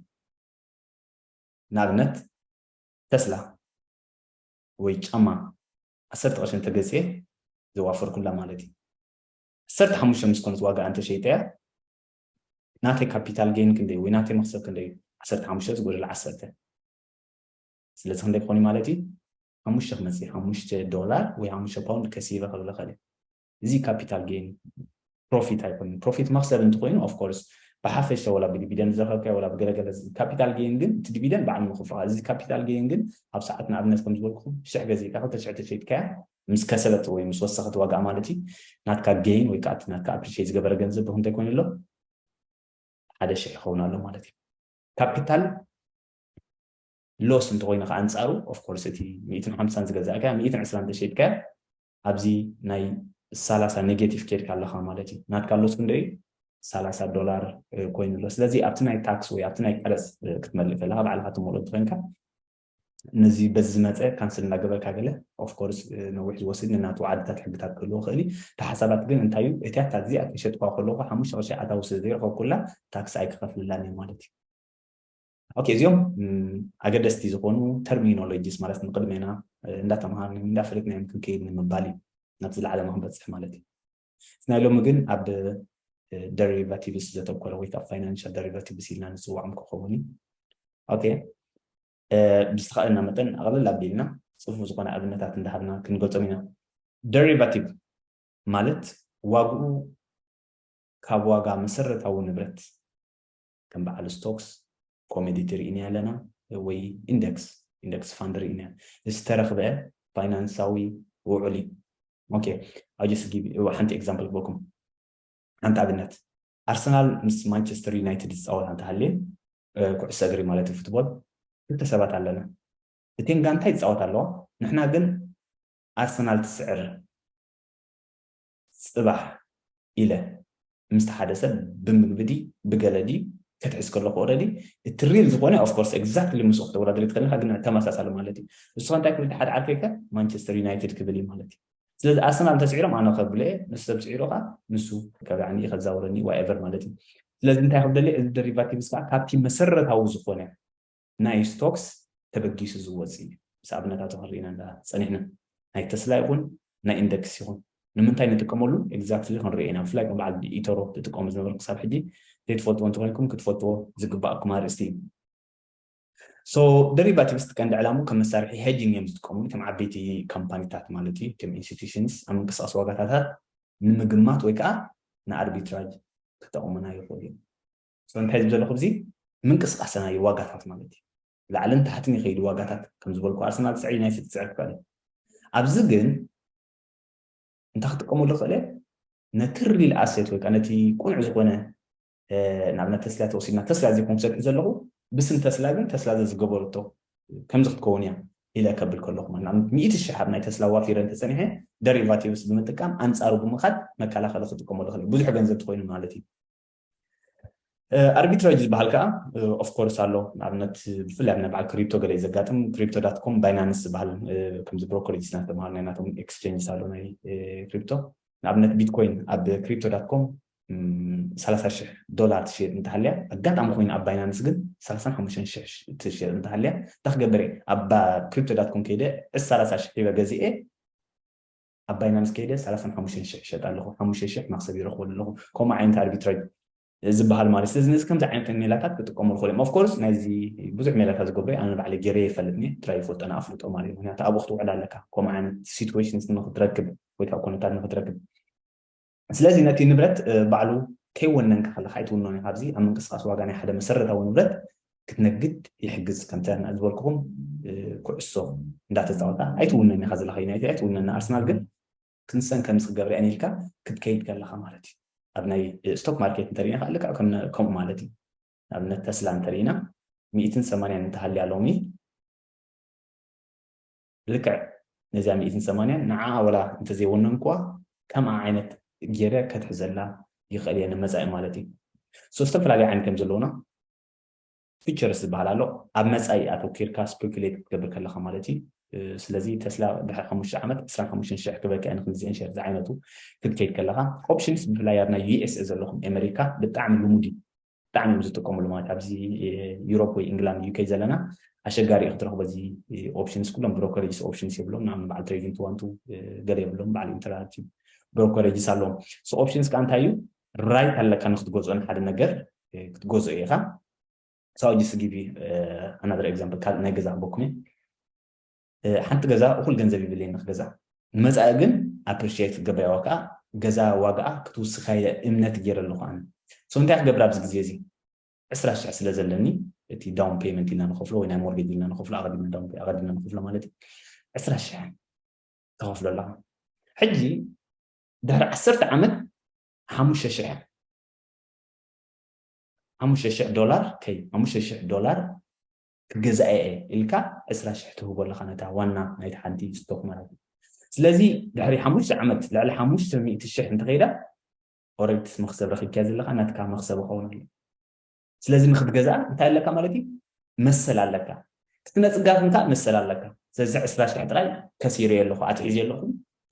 ንኣብነት ተስላ ወይ ጫማ ዓሰርተ ቅርሺ እንተገዚኤ ዘዋፈርኩላ ማለት እዩ ዓሰርተ ሓሙሽተ ምስ ኮነት ዋጋኣ እንተሸይጠያ ናተይ ካፒታል ጌን ክንደይ ወይ ናተይ መክሰብ ክንደይ እዩ ዓሰርተ ሓሙሽተ ዝጎደለ ዓሰርተ ስለዚ ክንደይ ክኾን እዩ ማለት እዩ ሓሙሽተ ክመፅእ ሓሙሽተ ዶላር ወይ ሓሙሽተ ፓውንድ ከሲበ ክብል እኽእል እየ እዚ ካፒታል ጌን ፕሮፊት ኣይኮነን ፕሮፊት መክሰብ እንትኮይኑ ኦፍኮርስ ብሓፈሻ ወላ ብዲቪደንድ ዝረከብካዮ ወላ ብገለገለ ካፒታል ጌን ግን እቲ ዲቪደንድ ባዕሉ ንክፍልካ እዚ ካፒታል ጌን ግን ኣብ ሰዓት ንኣብነት ከም ዝበልኩኩም ሽሕ ገዚእካ ክልተ ሽሕ ተሸይጥካያ ምስ ከሰበት ወይ ምስ ወሰኸት ዋጋኣ ማለት እዩ ናትካ ጌን ወይ ከዓ እቲ ናትካ ኣፕሪሼት ዝገበረ ገንዘብ ብክንታይ ኮይኑ ኣሎ ሓደ ሽሕ ይኸውን ኣሎ ማለት እዩ ካፒታል ሎስ እንተኮይኑ ከዓ ኣንፃሩ ኦፍኮርስ እቲ ሚእትን ሓምሳን ዝገዛእካያ ሚእትን ዕስራን ተሸይጥካያ ኣብዚ ናይ ሰላሳ ኔጌቲቭ ኬድካ ኣለኻ ማለት እዩ። ናትካ ሎስ ክንደይ እዩ? ሰላሳ ዶላር ኮይኑ ኣሎ። ስለዚ ኣብቲ ናይ ታክስ ወይ ኣብቲ ናይ ቀረጽ ክትመልእ ከለኻ ባዕልኻ ትመልኦ እንተኾይንካ ነዚ በዚ ዝመፀ ካንስል እንዳገበርካ ገለ ኦፍኮርስ ነዊሕ ዝወስድ ንናቱ ዓድታት ሕግታት ክህልዎ ክእል እዩ እቲ ሓሳባት ግን እንታይ እዩ እቲያ ታክዚ ኣብ ከሸጥኳ ከለኩ ሓሙሽተ ቅርሺ ኣታዊ ስለ ዘይረኸብኩላ ታክሲ ኣይክኸፍልላን እዩ ማለት እዩ ኦኬ እዚኦም ኣገደስቲ ዝኾኑ ተርሚኖሎጂስ ማለት ንቅድሜና እንዳተምሃርኒ እንዳፈለጥናዮም ክንከይድ ንምባል እዩ ናብቲ ዝለዓለና ክንበፅሕ ማለት እዩ ናይ ሎሚ ግን ኣብ ደሪቫቲቭስ ዘተኮረ ወይ ከዓ ፋይናንሻል ደሪቫቲቭስ ኢልና ንፅዋዖም ክኸውን እዩ ኦኬ ብዝተኸእለና መጠን ኣቕልል ኣቢልና ፅፉፍ ዝኾነ ኣብነታት እንዳሃብና ክንገልፆም ኢና ደሪቫቲቭ ማለት ዋግኡ ካብ ዋጋ መሰረታዊ ንብረት ከም በዓል ስቶክስ ኮሜዲቲ ርኢናዮ ኣለና ወይ ኢንደክስ ኢንደክስ ፋንድ ርኢናዮ ዝተረኽበ ፋይናንሳዊ ውዑል እዩ ኦኬ ኣጀስ ሓንቲ ኤግዛምፕል ክበኩም ሓንቲ ኣብነት ኣርሰናል ምስ ማንቸስተር ዩናይትድ ዝፃወት እንተሃልየ ኩዕሶ እግሪ ማለት እዩ ፉትቦል ክልተ ሰባት ኣለና እቴን ጋንታ ይፃወት ኣለዋ ንሕና ግን ኣርሰናል ትስዕር ጽባሕ ኢለ ምስቲ ሓደ ሰብ ብምግቢ ድዪ ብገለ ድዪ ክትሕዝ ከለኹ ኦረዲ እቲ ሪል ዝኾነ ኦፍ ኮርስ ኤግዛክትሊ ምስኡ ክተወዳድር ኣይትኽእልን ኢኻ ግን ተመሳሳሊ ማለት እዩ ንስኻ እንታይ ክብል ሓደ ዓርከይ ከ ማንቸስተር ዩናይትድ ክብል እዩ ማለት እዩ ስለዚ ኣርሰናል እንተስዒሮም ኣነ ከብሎ እየ ንሱ ሰብ ስዒሩ ከዓ ንሱ ከብላዕኒ እዩ ከዛውረኒ ዋኤቨር ማለት እዩ ስለዚ እንታይ ክብደሊ እዚ ደሪቫቲቭስ ከዓ ካብቲ መሰረታዊ ዝኾነ ናይ ስቶክስ ተበጊሱ ዝወጽእ እዩ። ምስ ኣብነታቱ ክንሪኢ ኢና እንዳ ጸኒሕና። ናይ ተስላ ይኹን ናይ ኢንደክስ ይኹን። ንምንታይ ንጥቀመሉ ኤግዛክትሊ ክንሪኦ ኢና። ብፍላይ ከም በዓል ኢቶሮ ትጥቀሙ ዝነበርኩም ክሳብ ሕጂ ዘይትፈልጥዎ እንተኾይንኩም ክትፈልጥዎ ዝግበኣኩም ኣርእስቲ እዩ። ሶ ደሪቫቲቭስ ቀንዲ ዕላምኡ ከም መሳርሒ ሄጂንግ እዮም ዝጥቀምሉ። ከም ዓበይቲ ካምፓኒታት ማለት እዩ። ከም ኢንስቲትዩሽንስ ኣብ ምንቅስቓስ ዋጋታታት ንምግማት ወይ ከዓ ንኣርቢትራጅ ክጠቕሙና ይኽእሉ እዮም። ሶ እንታይ ዝብል ዘለኹ እዚ ምንቅስቃስና እዩ ዋጋታት ማለት እዩ ላዕልን ታሕትን ይኸይድ ዋጋታት ከም ዝበልኩ ኣርሰናል ትስዕር ዩናይትድ ትስዕር ክኸእል እዩ ኣብዚ ግን እንታይ ክጥቀመሉ ክእል እየ ነቲ ሪል ኣሴት ወይ ከዓ ነቲ ቁኑዕ ዝኾነ ንኣብነት ተስላ ተወሲድና ተስላ ዘይኮንኩ ዘልዒ ዘለኹ ብስም ተስላ ግን ተስላ ዘዝገበረቶ ከምዚ ክትከውን እያ ኢለ ከብል ከለኹ ማለት ንኣብነት ሚእቲ ሽሕ ኣብ ናይ ተስላ ዋፊረ እንተፀኒሐ ደሪቫቲቭስ ብምጥቃም ኣንፃሩ ብምኻድ መከላኸሊ ክጥቀመሉ ክእል ብዙሕ ገንዘብ ትኮይኑ ማለት እዩ ኣርቢትራጅ ዝበሃል ከዓ ኦፍኮርስ ኣሎ ንኣብነት ብፍላይ ኣብ ናይ በዓል ክሪፕቶ ገለ እዩ ዘጋጥም ክሪፕቶ ዳት ኮም ባይናንስ ዝበሃል ከምዚ ብሮኮሎጂ ዝተማሃሩ ናይ ናቶም ኤክስቼንጅስ ኣሎ ናይ ክሪፕቶ ንኣብነት ቢትኮይን ኣብ ክሪፕቶ ዳት ኮም ሰላሳ ሽሕ ዶላር ትሽየጥ እንተሃልያ ኣጋጣሚ ኮይኑ ኣብ ባይናንስ ግን ሰላሳን ሓሙሽተን ሽሕ ትሽየጥ እንተሃልያ እንታይ ክገብር እየ ኣብ ክሪፕቶ ዳት ኮም ከይደ ዕስ ሰላሳ ሽሕ ሂበ ገዚኤ ኣብ ባይና ምስ ከይደ ሰላሳን ሓሙሽተን ሽሕ ይሸጣ ኣለኹ፣ ሓሙሽተ ሽሕ መኽሰብ ይረኽበሉ ኣለኹ፣ ከምኡ ዓይነት ኣርቢትራጅ ዝበሃል ማለት እዩ። ስለዚ ነዚ ከምዚ ዓይነት ሜላታት ክጥቀሙ ይኽእሉ እዮም። ኦፍ ኮርስ ናይዚ ብዙሕ ሜላታት ዝገብሩ'የ፣ ኣነ ባዕለይ ገይረዮ ይፈልጥ እኒሀ፣ ጥራይ ይፈልጦ እና ኣፍልጦ ማለት እዩ። ምኽንያቱ ኣብኡ ክትውዕል ኣለካ፣ ከምኡ ዓይነት ሲትዌሽንስ ንኽትረክብ ወይ ከዓ ኩነታት ንኽትረክብ። ስለዚ ነቲ ንብረት ባዕሉ ከይወነንካ ከለካ ኣይትውንኖን ኢካ ኣብዚ ኣብ ምንቅስቃስ ዋጋ ናይ ሓደ መሰረታዊ ንብረት ክትነግድ ይሕግዝ ከምተ ዝበልኩኹም ኩዕሶ እንዳተፃወታ ኣይትውነን ኢካ ዘለካ ዩናይትድ ኣይትውነን ንኣርሰናል ግን ክንሰን ከምፅእ ገብርያን ኢልካ ክትከይድ ከለካ ማለት እዩ ኣብ ናይ ስቶክ ማርኬት እንተሪእና ከዓ ልክዕ ከምኡ ማለት እዩ ንኣብነት ተስላ እንተሪእና ሚእትን ሰማንያን እንተሃልያ ሎሚ ልክዕ ነዚኣ ሚእትን ሰማንያን ንዓኣ ወላ እንተዘይወነንኩዋ ከምኣ ዓይነት ጌረ ከትሕዘላ ይኽእል እየ ንመጻኢ ማለት እዩ ሶ ዝተፈላለዩ ዓይነት እዮም ዘለውና ፊቸርስ ዝበሃል ኣሎ ኣብ መፃኢ ኣተኪርካ ስፔኩሌት ክትገብር ከለካ ማለት እዩ ስለዚ ተስላ ድሕሪ ሓሙሽተ ዓመት ዕስራን ሓሙሽተን ሽሕ ክበቅዐ ንክንዚአን ሸር ዝዓይነቱ ክትከይድ ከለካ ኦፕሽንስ ብፍላይ ኣብ ናይ ዩኤስኤ ዘለኹም ኣሜሪካ ብጣዕሚ ልሙድ እዩ ብጣዕሚ እዮም ዝጥቀምሉ ማለት ኣብዚ ዩሮፕ ወይ ኢንግላንድ ዩከይ ዘለና ኣሸጋሪ እዩ ክትረኽቦ እዚ ኦፕሽንስ ኩሎም ብሮከሬጅስ ኦፕሽንስ የብሎም ንኣብነት በዓል ትሬዲንግ ትዋንቱ ገለ የብሎም በዓል ኢንተራክቲቭ ብሮከሬጅስ ኣለዎም ሶ ኦፕሽንስ ከዓ እንታይ እዩ ራይት ኣለካ ንክትገዝኦ ንሓደ ነገር ክትገዝኦ ኢኻ ሳው ጅስ ጊቪ ኣናደር ኤግዛምፕል ካልእ ናይ ገዛ ክበኩም እየ ሓንቲ ገዛ እኹል ገንዘብ ይብልየኒ ክገዝኣ ንመጻኢ ግን ኣፕሪሽየት ክገብርያ ወይ ከኣ ገዛ ዋጋኣ ክትውስኻየ እምነት ጌረ ኣለኹ ኣነ so እንታይ ክገብር ኣብዚ ግዜ እዚ ዕስራ ሽሕ ስለ ዘለኒ እቲ ዳውን ፔመንት ኢልና ንኸፍሎ ወይ ናይ ሞርጌጅ ኢልና ንኸፍሎ ኣቐዲምና ዳውን ኣቐዲምና ንኸፍሎ ማለት እዩ ዕስራ ሽሕ ተኸፍሎ ኣለኻ ሕጂ ድሕሪ ዓሰርተ ዓመት ሓሙሽተ ሽሕ ሓሙሽተ ሽሕ ዶላር ከይ ሓሙሽተ ሽሕ ዶላር ክገዛኤ እየ ኢልካ ዕስራ ሽሕ ትህቦ ኣለኻ ነታ ዋና ናይቲ ሓንቲ ስቶክ ማለት እዩ ስለዚ ድሕሪ ሓሙሽተ ዓመት ልዕሊ ሓሙሽተ ሚእቲ ሽሕ እንተኸይዳ ኦረዲ ትስ መኽሰብ ረኺብካያ ዘለኻ ናትካ መኽሰብ ይኸውን ኣሎ ስለዚ ንክትገዝኣ እንታይ ኣለካ ማለት እዩ መሰል ኣለካ እቲ ነፅጋት እንካ መሰል ኣለካ ስለዚ ዕስራ ሽሕ ጥራይ ከሲረ ኣለኹ ኣትሒዘ ኣለኹ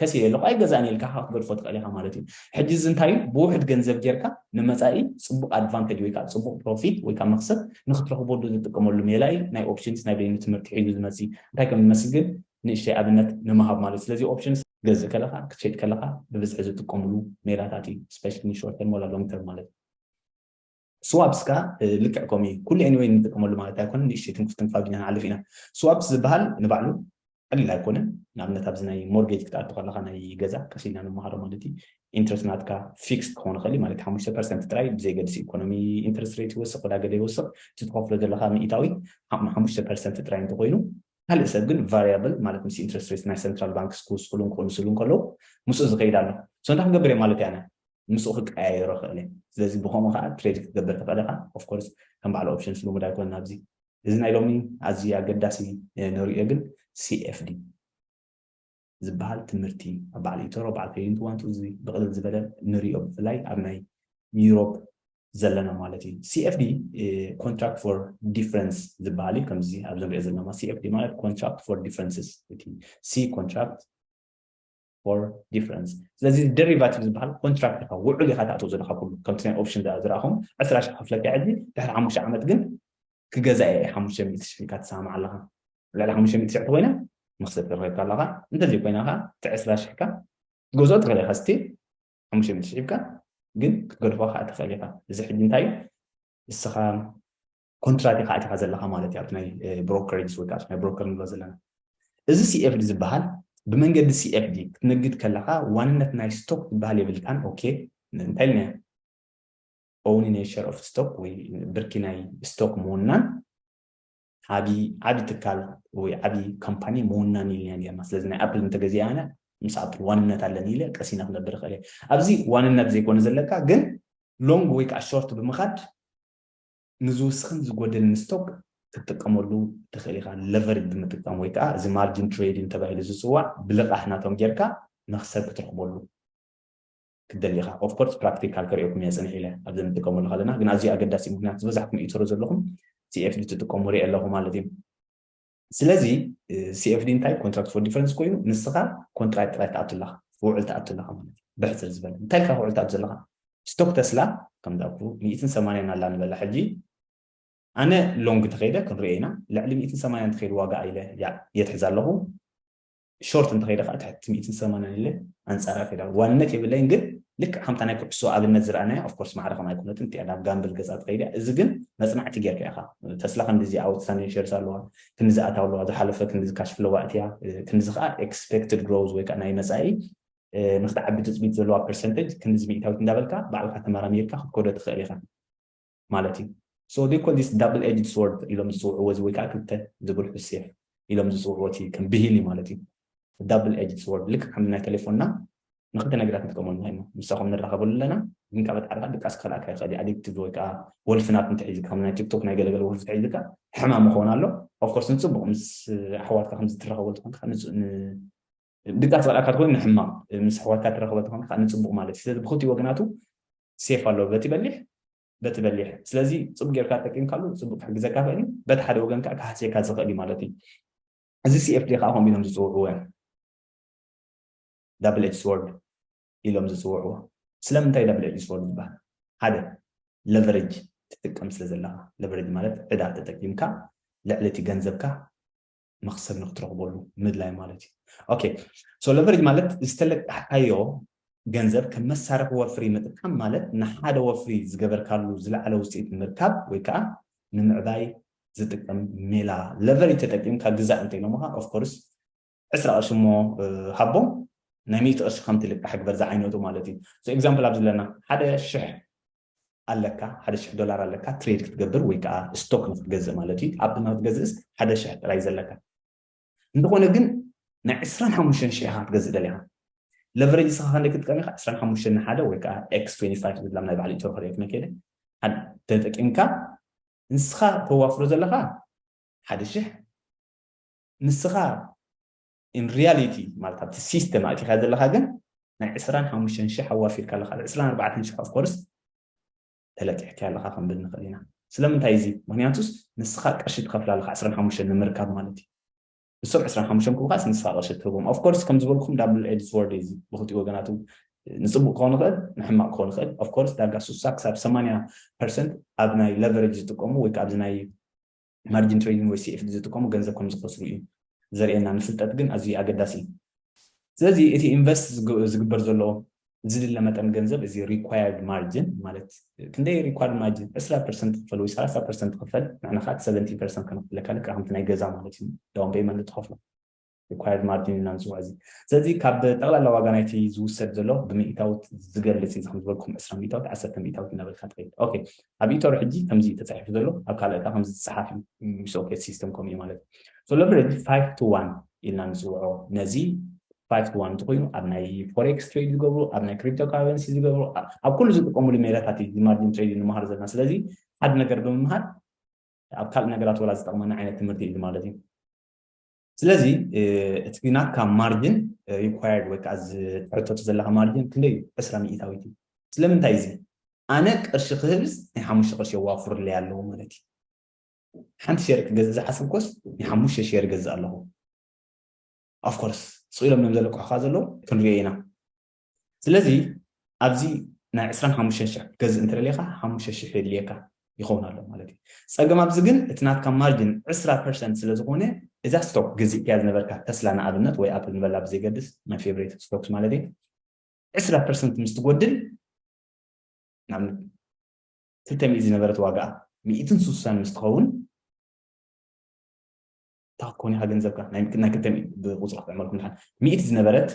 ከሲረ ኣለኹ ኣይገዛእን ኢልካ ከኣ ክትገድፎ ትኽእል ኢኻ ማለት እዩ። ሕጂ እዚ እንታይ እዩ ብውሑድ ገንዘብ ጌርካ ንመጻኢ ጽቡቕ ኣድቫንተጅ ወይ ከኣ ጽቡቕ ፕሮፊት ወይ ከኣ መኽሰብ ንኽትረኽበሉ ዝጥቀመሉ ሜላ እዩ። ናይ ኦፕሽንስ ናይ በይኑ ትምህርቲ ሒዙ ዝመጽእ እዩ። እንታይ ከም ዝመስል ግን ንእሽተይ ኣብነት ንምሃብ ማለት እዩ። ስለዚ ኦፕሽንስ። ክትገዝእ ከለኻ ክትሸይጥ ከለኻ ብብዝሒ ዝጥቀምሉ ሜላታት እዩ። ስፔሻሊ ንሾርት ተርም ዋላ ሎንግ ተርም ማለት እዩ። ስዋፕስ ከኣ ልክዕ ከምኡ እዩ ኩሉ ኤኒወይ ንጥቀመሉ ማለት ኣይኮነን ንእሽተይ ትንኩፍ ትንፋግ ኢና ንሓልፍ ኢና ስዋፕስ ዝብሃል ንባዕሉ ቀሊል ኣይኮነን ንኣብነት ኣብዚ ናይ ሞርጌጅ ክትኣቱ ከለካ ናይ ገዛ ቀስ ኢልና ንመሃሮ ማለት እዩ ኢንትረስት ናትካ ፊክስ ክኸውን ይኽእል እዩ ማለት ሓሙሽተ ፐርሰንት ጥራይ ብዘይገድሲ ኢኮኖሚ ኢንትረስት ሬት ይወስኽ ወዳገለ ይወስኽ እቲ ትኸፍሎ ዘለካ ሚእታዊ ሓሙሽተ ፐርሰንት ጥራይ እንተኮይኑ ካልእ ሰብ ግን ቫሪያብል ማለት ምስ ኢንትረስት ሬት ናይ ሰንትራል ባንክስ ክውስኽሉን ክቕንስሉን ከለዉ ምስኡ ዝኸይድ ኣሎ ሶ እንታይ ክንገብር እየ ማለት እያና ምስኡ ክቀያየሮ ይኽእል እየ ስለዚ ብከምኡ ከኣ ትሬድ ክትገብር ትኽእል ኢኻ ኦፍ ኮርስ ከም በዓል ኦፕሽንስ ልሙድ ኣይኮነን ኣብዚ እዚ ናይ ሎሚ ኣዝዩ ኣገዳሲ ንርእዮ ግን CFD ዝበሃል ትምህርቲ ኣብ በዓል ኢቶሮ በዓል ፔይንት ዋንቱ እዚ ብቕልል ዝበለ ንርእዮ ብፍላይ ኣብ ናይ ዩሮፕ ዘለና ማለት እዩ CFD ኮንትራክት ፎር ዲፍረንስ ዝበሃል እዩ ከምዚ ኣብዚ ንሪኦ ዘለና CFD ማለት ኮንትራክት ፎር ዲፍረንስስ እቲ ሲ ኮንትራክት for difference ስለዚ ደሪቫቲቭ ዝበሃል ኮንትራክት ኢኻ ውዕል ኢኻ ተኣትዎ ዘለካ ኩሉ ከምቲ ናይ ኦፕሽን ዝረኣኹም ዕስራ ሽሕ ክፍለካ ሕጂ ድሕሪ ሓሙሽተ ዓመት ግን ክገዛእ እየ ሓሙሽተ ሚእቲ ሽሕ ኢልካ ትሰማምዕ ኣለኻ ልዕሊ ሓሙሽተ ሚእቲ ሽሕ ኮይና መኽሰብ ተረኺብካ ኣለኻ እንተዘይ ኮይና ከዓ እቲ ዕስራ ሽሕካ ትገዝኦ ትኽእል ኢኻ ስቲል ሓሙሽተ ሚእቲ ሽሕ ሂብካ ግን ክትገድፎ ከዓ ትኽእል ኢኻ እዚ ሕጂ እንታይ እዩ ንስኻ ኮንትራት ኢኻ ኣቲኻ ዘለኻ ማለት እዩ ኣብቲ ናይ ብሮከሬጅስ ወይ ከዓ ናይ ብሮከር ንብሎ ዘለና እዚ ሲኤፍዲ ዝበሃል ብመንገዲ ሲኤፍዲ ክትነግድ ከለኻ ዋንነት ናይ ስቶክ ዝበሃል የብልካን ኦኬ እንታይ ኢልና ኦኒ ናይ ሸር ኦፍ ስቶክ ወይ ብርኪ ናይ ስቶክ ምውናን ዓቢ ዓቢ ትካል ወይ ዓቢ ካምፓኒ ምውናን ኢልና ነርና ስለዚ ናይ ኣፕል እንተገዚኣ ኣነ ምስ ኣፕል ዋንነት ኣለኒ ኢለ ቀሲና ክነብር ይኽእል እየ ኣብዚ ዋንነት ዘይኮነ ዘለካ ግን ሎንግ ወይ ከዓ ሾርት ብምኻድ ንዝውስኽን ዝጎድልን ስቶክ ክትጥቀመሉ ትኽእል ኢኻ ለቨሬጅ ብምጥቃም ወይ ከኣ እዚ ማርጂን ትሬዲንግ ተባሂሉ ዝጽዋዕ ብልቓሕ ናቶም ጌርካ መኽሰብ ክትረኽበሉ ክትደሊ ኢኻ ኦፍ ኮርስ ፕራክቲካል ከርእየኩም እየ ጽንሕ ኢለ ኣብዚ ንጥቀመሉ ከለና ግን ኣዝዩ ኣገዳሲ ምኽንያት ዝበዛሕኩም እትሩ ዘለኹም CFD ትጥቀሙ ሪኤ ኣለኹ ማለት እዩ ስለዚ CFD እንታይ ኮንትራክት ፎር ዲፈረንስ ኮይኑ ንስኻ ኮንትራክት ጥራይ ትኣቱ ኣለኻ ክውዕል ትኣቱ ኣለኻ ማለት እዩ ብሕጽር ዝበለ እንታይ ኢልካ ክውዕል ትኣቱ ዘለኻ ስቶክ ተስላ ከም ዳኩ 180 ኣላ ንበላ ሕጂ ኣነ ሎንግ ተኸይደ ክንሪኦ ኢና ልዕሊ 180 ተኸይዱ ዋጋ ኢለ የትሕዝ ኣለኹ ሾርት እንተኸይደ ከኣ ትሕቲ ሚእትን ሰማንያን ኢለ ኣንጻር ኣኺለ። ዋንነት የብለይን ግን ልክዕ ከምታ ናይ ኩዕሶ ኣብነት ዝረኣናያ ኦፍ ኮርስ ማዕረ ከምኣ ኣይኮነትን እቲኣ ናብ ጋምብል ገጻ ትኸይድ እያ እዚ ግን መጽናዕቲ ጌርካ ኢኻ ተስላ ክንድዚ ኣውትስታንዲንግ ሼርስ ኣለዋ ክንድዚ ኣታዊ ኣለዋ ዝሓለፈ ክንድዚ ካሽ ፍሎው ኣእትያ ክንድዚ ከኣ ኤክስፔክትድ ግሮዝ ወይ ከኣ ናይ መጻኢ ንክትዓቢ ትጽቢት ዘለዋ ፐርሰንተጅ ክንድዚ ሚእታዊት እንዳበልካ ባዕልካ ተመራሚርካ ክትኮዶ ትኽእል ኢኻ ማለት እዩ so they call this double edged sword ኢሎም ዝጽውዕዎ እዚ ወይ ከዓ ክልተ ዝብርሑ ሴፍ ኢሎም ዝጽውዕዎ እቲ ከም ብሂል እዩ ማለት እዩ ዳብል ኤጅድ ስወርድ ልክዕ ከም ናይ ቴሌፎንና ንክልተ ነገራት ንጥቀመሉ ንክእል ኢና ምሳኹም ንራኸበሉ ኣለና ግን ካብ ኣጣዕርካ ድቃስ ክኸልኣካ ይኽእል እዩ ኣዲክቲቭ ወይ ከዓ ወልፊ ናት እንተሒዝካ ከም ናይ ቲክቶክ ናይ ገለገለ ወልፊ ተሒዝካ ሕማም ይኸውን ኣሎ ኦፍኮርስ ንፅቡቅ ምስ ኣሕዋትካ ከምዚ ትራኸበሉ ትኾንካ ድቃ ዝጸልኣካ ተኮይኑ ንሕማቅ ምስ ኣሕዋትካ ትራከቦ ተኮንካ ከኣ ንጽቡቅ ማለት እዩ ስለዚ ብክልቲኡ ወገናቱ ሴፍ ኣሎ በቲ በሊሕ በቲ በሊሕ ስለዚ ጽቡቅ ጌርካ ተጠቂምካሉ ጽቡቅ ክሕግዘካ ይክእል እዩ በቲ ሓደ ወገን ከኣ ክሃስየካ ዝክእል እዩ ማለት እዩ እዚ ሲኤፍዲ ከኣ ከምኡ ኢሎም ዝጽውዕዎ እዮም ዳብል ኤጅ ስዎርድ ኢሎም ዝጽውዕዎ ስለምንታይ ዳብል ኤጅ ስዎርድ ዝበሃል ሓደ ለቨሬጅ ትጥቀም ስለ ዘለካ ለቨሬጅ ማለት ዕዳ ተጠቂምካ ልዕሊ እቲ ገንዘብካ መክሰብ ንክትረክበሉ ምድላይ ማለት እዩ ኦኬ ሶ ለቨሬጅ ማለት ዝተለቃሕካዮ ገንዘብ ከም መሳርሒ ወፍሪ ምጥቃም ማለት ንሓደ ወፍሪ ዝገበርካሉ ዝለዓለ ውፅኢት ንምርካብ ወይ ከዓ ንምዕባይ ዝጥቀም ሜላ ለቨሬጅ ተጠቂምካ ግዛእ እንተኢሎምካ ኦፍኮርስ ዕስራ ቅርሺ እሞ ሃቦም ናይ ሚእቲ ቅርሺ ከም ትልቃሕ ግበር ዝዓይነቱ ማለት እዩ ኤግዛምፕል ኣብዚ ኣለና ሓደ ሽሕ ኣለካ ሓደ ሽሕ ዶላር ኣለካ ትሬድ ክትገብር ወይ ከኣ ስቶክ ንክትገዝእ ማለት እዩ ኣፕ ንክትገዝእስ ሓደ ሽሕ ጥራይ ዘለካ እንተኾነ ግን ናይ ዕስራን ሓሙሽተን ሽሕ ኢኻ ክትገዝእ ደሊኻ ለቨሬጅ እስኻ ክንደይ ክትጥቀም ኢኻ ዕስራን ሓሙሽተን ንሓደ ወይ ከኣ ኤክስ ትዌንቲ ፋይቭ ዝብላ ናይ ባዕሉ ኢትዮ ክሪኤት መኬደ ተጠቂምካ ንስኻ ተዋፍሮ ዘለኻ ሓደ ሽሕ ንስኻ ኢን ሪያሊቲ ማለት ኣብቲ ሲስተም ኣእቲኻ ዘለኻ ግን ናይ ዕስራን ሓሙሽተን ሽሕ ኣዋፊርካ ኣለካ ኣብ ዕስራን ኣርባዕተን ሽሕ ኦፍኮርስ ተለቂሕካ ኣለካ ክንብል ንኽእል ኢና ስለምንታይ እዚ ምክንያቱስ ንስኻ ቅርሺ ትኸፍል ኣለካ ዕስራን ሓሙሽተን ንምርካብ ማለት እዩ ንሶም ዕስራን ሓሙሽተን ክቡኻስ ንስኻ ቅርሺ ትህቦም ኦፍኮርስ ከም ዝበልኩም ዳብል ኤድስ ወርድ እዩ ብክልቲኡ ወገናቱ ንፅቡቅ ክኾን ይኽእል ንሕማቅ ክኾን ይኽእል ኦፍኮርስ ዳርጋ ሱሳ ክሳብ ሰማንያ ፐርሰንት ኣብ ናይ ለቨሬጅ ዝጥቀሙ ወይ ከዓ ኣብዚ ናይ ማርጂን ትሬዲንግ ወይ ሲኤፍዲ ዝጥቀሙ ገንዘብ ከም ዝኸስሩ እዩ ዘርእየና። ንፍልጠት ግን ኣዝዩ ኣገዳሲ እዩ። ስለዚ እቲ ኢንቨስት ዝግበር ዘሎ ዝድለ መጠን ገንዘብ እዚ ሪኳየርድ ማርጂን ማለት ክንደይ ሪኳርድ ማርጂን ዕስራ ፐርሰንት ክፈል ወይ ሰላሳ ፐርሰንት ክፈል ንሕና ከዓ ሰቨንቲ ፐርሰንት ከነኽፍለካ ልክዕ ከምቲ ናይ ገዛ ማለት እዩ ዳውን ፔይመንት ትኸፍሎ ሪኳየርድ ማርጂን ኢና ንፅውዖ እዚ ስለዚ ካብ ጠቕላላ ዋጋ ናይቲ ዝውሰድ ዘሎ ብምኢታውት ዝገልፅ እዩ ከም ዝበልኩም ዕስራ ሚኢታውት ዓሰርተ ሚኢታውት እናበልካ ትኸይድ ኦኬ ኣብ ኢቶር ሕጂ ከምዚ እዩ ተፃሒፉ ዘሎ ኣብ ካልእ ከዓ ከምዚ ዝፀሓፍ እዩ ምስ ኦኬት ሲስተም ከምኡ እዩ ማለት እዩ ሶ ለቨሬጅ ፋይቭ ቱ ዋን ኢልና ንፅውዖ ነዚ ፋይቭ ቱ ዋን እንትኮይኑ ኣብ ናይ ፎሬክስ ትሬድ ዝገብሩ ኣብ ናይ ክሪፕቶ ካረንሲ ዝገብሩ ኣብ ኩሉ ዝጥቀምሉ ሜላታት እዩ ማርጂን ትሬድ ንምሃር ዘለና ስለዚ ሓደ ነገር ብምምሃር ኣብ ካልእ ነገራት ወላ ዝጠቕመና ዓይነት ትምህርቲ እዩ ማለት እዩ ስለዚ እቲ ናትካ ማርጅን ሪኳየርድ ወይ ከዓ ዝሕተቱ ዘለካ ማርጅን ክንደይ እዩ ዕስራ ሚእታዊት እዩ ስለምንታይ እዚ ኣነ ቅርሺ ክህብስ ናይ ሓሙሽተ ቅርሺ የዋፍርለይ ኣለዎ ማለት እዩ ሓንቲ ሸር ክገዝእ ዝሓስብኮስ ናይ ሓሙሽተ ሸር ይገዝእ ኣለኹ ኣፍኮርስ ስኢሎም እዮም ዘለቅሑካ ዘለዉ ክንሪኦ ኢና ስለዚ ኣብዚ ናይ ዕስራን ሓሙሽተን ሽሕ ክትገዝእ እንተደሊኻ ሓሙሽተ ሽሕ የድልየካ ይኸውን ኣሎ ማለት እዩ። ጸገም ኣብዚ ግን እቲ ናትካ ማርጅን ዕስራ ፐርሰንት ስለ ዝኾነ እዛ ስቶክ ገዚእካያ ዝነበርካ ተስላ ንኣብነት ወይ ኣፕል ንበላ ብዘይገድስ ማይ ፌቨሬት ስቶክስ ማለት እዩ ዕስራ ፐርሰንት ምስ ትጎድል ንኣብነት ክልተ ሚእቲ ዝነበረት ዋጋኣ ሚእትን ስሳን ምስ ትኸውን እታ ክትኮን ኢኻ ገንዘብካ ናይ ክልተ ብቁፅሪ ክትዕመልኩም ድሓን ሚእቲ ዝነበረት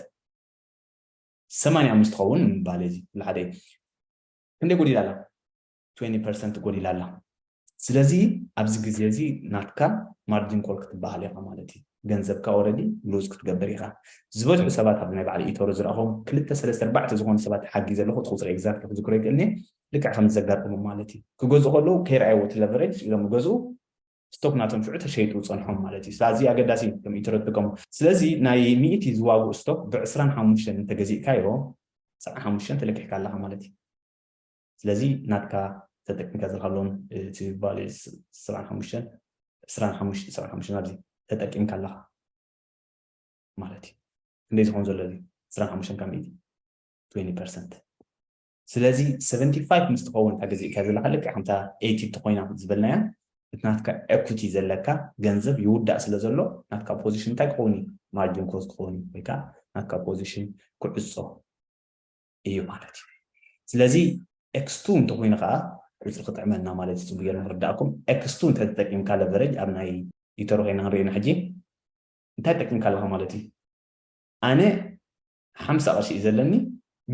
ሰማንያ ምስ ትኸውን ንምባል እዚ ኩሉ ሓደ እዩ። ክንደይ ጎዲላ ኣላ? ትዌኒ ፐርሰንት ጎዲላ ኣላ። ስለዚ ኣብዚ ግዜ እዚ ናትካ ማርጂን ኮል ክትበሃል ኢኻ ማለት እዩ። ገንዘብካ ኦረዲ ሉዝ ክትገብር ኢኻ። ዝበዝሑ ሰባት ኣብዚ ናይ በዓል ኢቶሮ ዝረኣኹዎም ክልተ ሰለስተ ኣርባዕተ ዝኾኑ ሰባት ሓጊዘ ኣለኹ። እቲ ቁጽሪ ኤግዛክትሊ ክዝክሮ ኣይክእልን እየ። ልክዕ ከምዚ ዘጋጠሞም ማለት እዩ። ክገዝኡ ከለዉ ከይረኣይዎ እቲ ለቨረጅ ኢሎም ይገዝኡ። ስቶክ ናተንፍዑ ተሸይጡ ጸንሖም ማለት እዩ ስላዚ ኣገዳሲ እዩ ከም ኢትሮ ትጥቀሙ ስለዚ ናይ ሚእቲ ዝዋግኡ ስቶክ ብ ዕስራን ሓሙሽተን እንተ ገዚእካዮ ሰዓን ሓሙሽተን ተለኪሕካ ኣለካ ማለት እዩ ስለዚ ናትካ ተጠቂምካ ዘለካ ሎን እቲ ቫልዩ ሰብዓን ሓሙሽተን ዕስራን ሓሙሽተ ሰብዓን ሓሙሽተን ኣብዚ ተጠቂምካ ኣለካ ማለት እዩ ክንደይ ዝኮን ዘሎ እዚ ዕስራን ሓሙሽተን ካብ ሚእቲ ትዌኒ ፐርሰንት ስለዚ ሰቨንቲ ፋይቭ ምስ ትኸውን እታ ገዚእካያ ዘለኻ ልክዕ ከምታ ኤይቲ እንተኾይና ዝበልናያ እቲ ናትካ ኤኩቲ ዘለካ ገንዘብ ይውዳእ ስለ ዘሎ ናትካ ፖዚሽን እንታይ ክኸውን እዩ ማርጂን ኮስት ክኸውን እዩ ወይ ከዓ ናትካ ፖዚሽን ክዕጾ እዩ ማለት እዩ ስለዚ ኤክስቱ እንተኾይኑ ከዓ ቁፅሪ ክጥዕመና ማለት እዩ ፅቡቅ ጌርና ክርዳእኩም ኤክስቱ እንታይ ተጠቂምካ ለቨረጅ ኣብ ናይ ኢተሮ ኮይና ክንሪኦ ኢና ሕጂ እንታይ ጠቂምካ ኣለኻ ማለት እዩ ኣነ ሓምሳ ቅርሺ እዩ ዘለኒ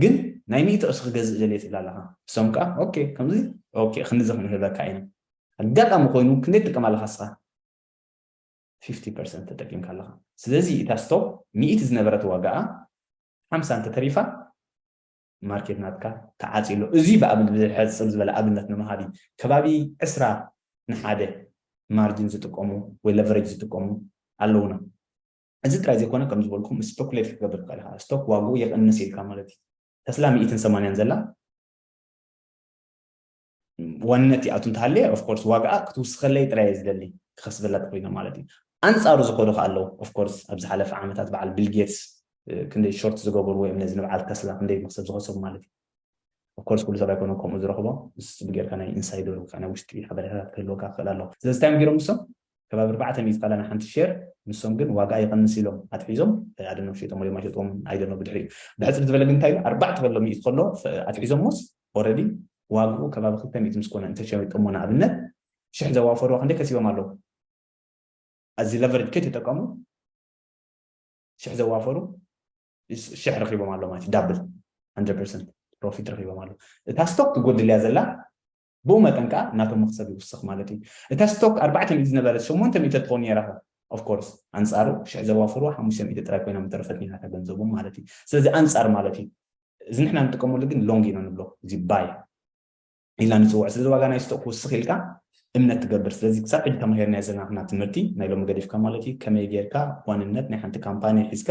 ግን ናይ ሚእቲ ቅርሺ ክገዝእ ደልየ ትብል ኣለኻ እሶም ከኣ ኦኬ ከምዚ ኦኬ ክንድዚ ክንህበካ ኢና ኣጋጣሚ ኮይኑ ክንደይ ትጥቀም ኣለኻ እስኻ ፊፍቲ ፐርሰንት ተጠቂምካ ኣለኻ ስለዚ እታ ስቶፕ ሚእቲ ዝነበረት ዋጋኣ ሓምሳ እንተተሪፋ ማርኬት ናትካ ተዓጽዩ ኣሎ እዚ ብኣብነት ብሕጽር ዝበለ ኣብነት ንምሃብ እዩ ከባቢ ዕስራ ንሓደ ማርጅን ዝጥቀሙ ወይ ለቨሬጅ ዝጥቀሙ ኣለውና እዚ ጥራይ ዘይኮነ ከም ዝበልኩም ስፐኩሌት ክትገብር ትኽእል ኢኻ ስቶክ ዋግኡ ይቕንስ ኢልካ ማለት እዩ ተስላ ሚኢትን ሰማንያን ዘላ ዋንነት ይኣቱ እንተሃለየ ኦፍኮርስ ዋግኣ ክትውስኸለይ ጥራይ ዝደሊ ክኸስበላ ተኮይነ ማለት እዩ ኣንጻሩ ዝኸዱ ከ ኣለዉ ኦፍኮርስ ኣብ ዝሓለፈ ዓመታት በዓል ቢል ጌትስ ክንደይ ሾርት ዝገበሩ ወይም ነዚ ንበዓል ተስላ ክንደይ መክሰብ ዝኸሰቡ ማለት እዩ ይኽእል። Of course ኩሉ ሰብ ኣይኮነን ከምኡ ዝረኽቦ ንስስብ ጌርካ ናይ ኢንሳይደር ውጻእ ናይ ውሽጢ ሓበሬታታት ክህልወካ ክኽእል ኣለዎ። ስለዚ እንታይ እዮም ጌሮም ንሶም ከባቢ ኣርባዕተ ሚእቲ ካላ ን ሓንቲ ሼር ንሶም ግን ዋጋኣ ይቐንስ ኢሎም ኣትሒዞም I don't know ሸይጦሞ ድዮም ኣይሸጥዎምን I don't know ብድሕሪኡ ብሕጽር ዝበለ ግን እንታይ ኢሉ ኣርባዕተ ከሎ ሚእቲ ከሎ ኣትሒዞሞስ ኦረዲ ዋግኡ ከባቢ ክልተ ሚእቲ ምስ ኮነ እንተ ሸይጦሞ ንኣብነት ሽሕ ዘዋፈርዋ ክንደይ ከሲቦም ኣለዉ ኣዚ ለቨሬጅ ከይተጠቀሙ ሽሕ ዘዋፈሩ ሽሕ ረኪቦም ኣሎ ማለት ዳብል 100 ፐርሰንት ፕሮፊት ረኪቦም ኣሎ እታ ስቶክ ትጎድል እያ ዘላ ብኡ መጠን ከዓ ናቶም መክሰብ ይውስኽ ማለት እዩ እታ ስቶክ ኣርባዕተ ሚእቲ ዝነበረት ሸሞንተ ሚእቲ ትኸውን ነይራ ኦፍኮርስ ኣንፃሩ ሽሕ ዘዋፈሩ ሓሙሽተ ሚእቲ ጥራይ ኮይና ምተረፈት ነይራ እታ ገንዘቦም ማለት እዩ ስለዚ ኣንፃር ማለት እዩ እዚ ንሕና ንጥቀመሉ ግን ሎንግ ኢና ንብሎ እዚ ባይ ኢልና ንጽውዖ። ስለዚ ዋጋ ናይ ስቶክ ክውስኽ ኢልካ እምነት ትገብር። ስለዚ ክሳብ ሕጂ ተማሂርናዮ ዘናትና ትምህርቲ ናይ ሎሚ ገዲፍካ ማለት እዩ ከመይ ጌርካ ዋንነት ናይ ሓንቲ ካምፓኒ ሒዝካ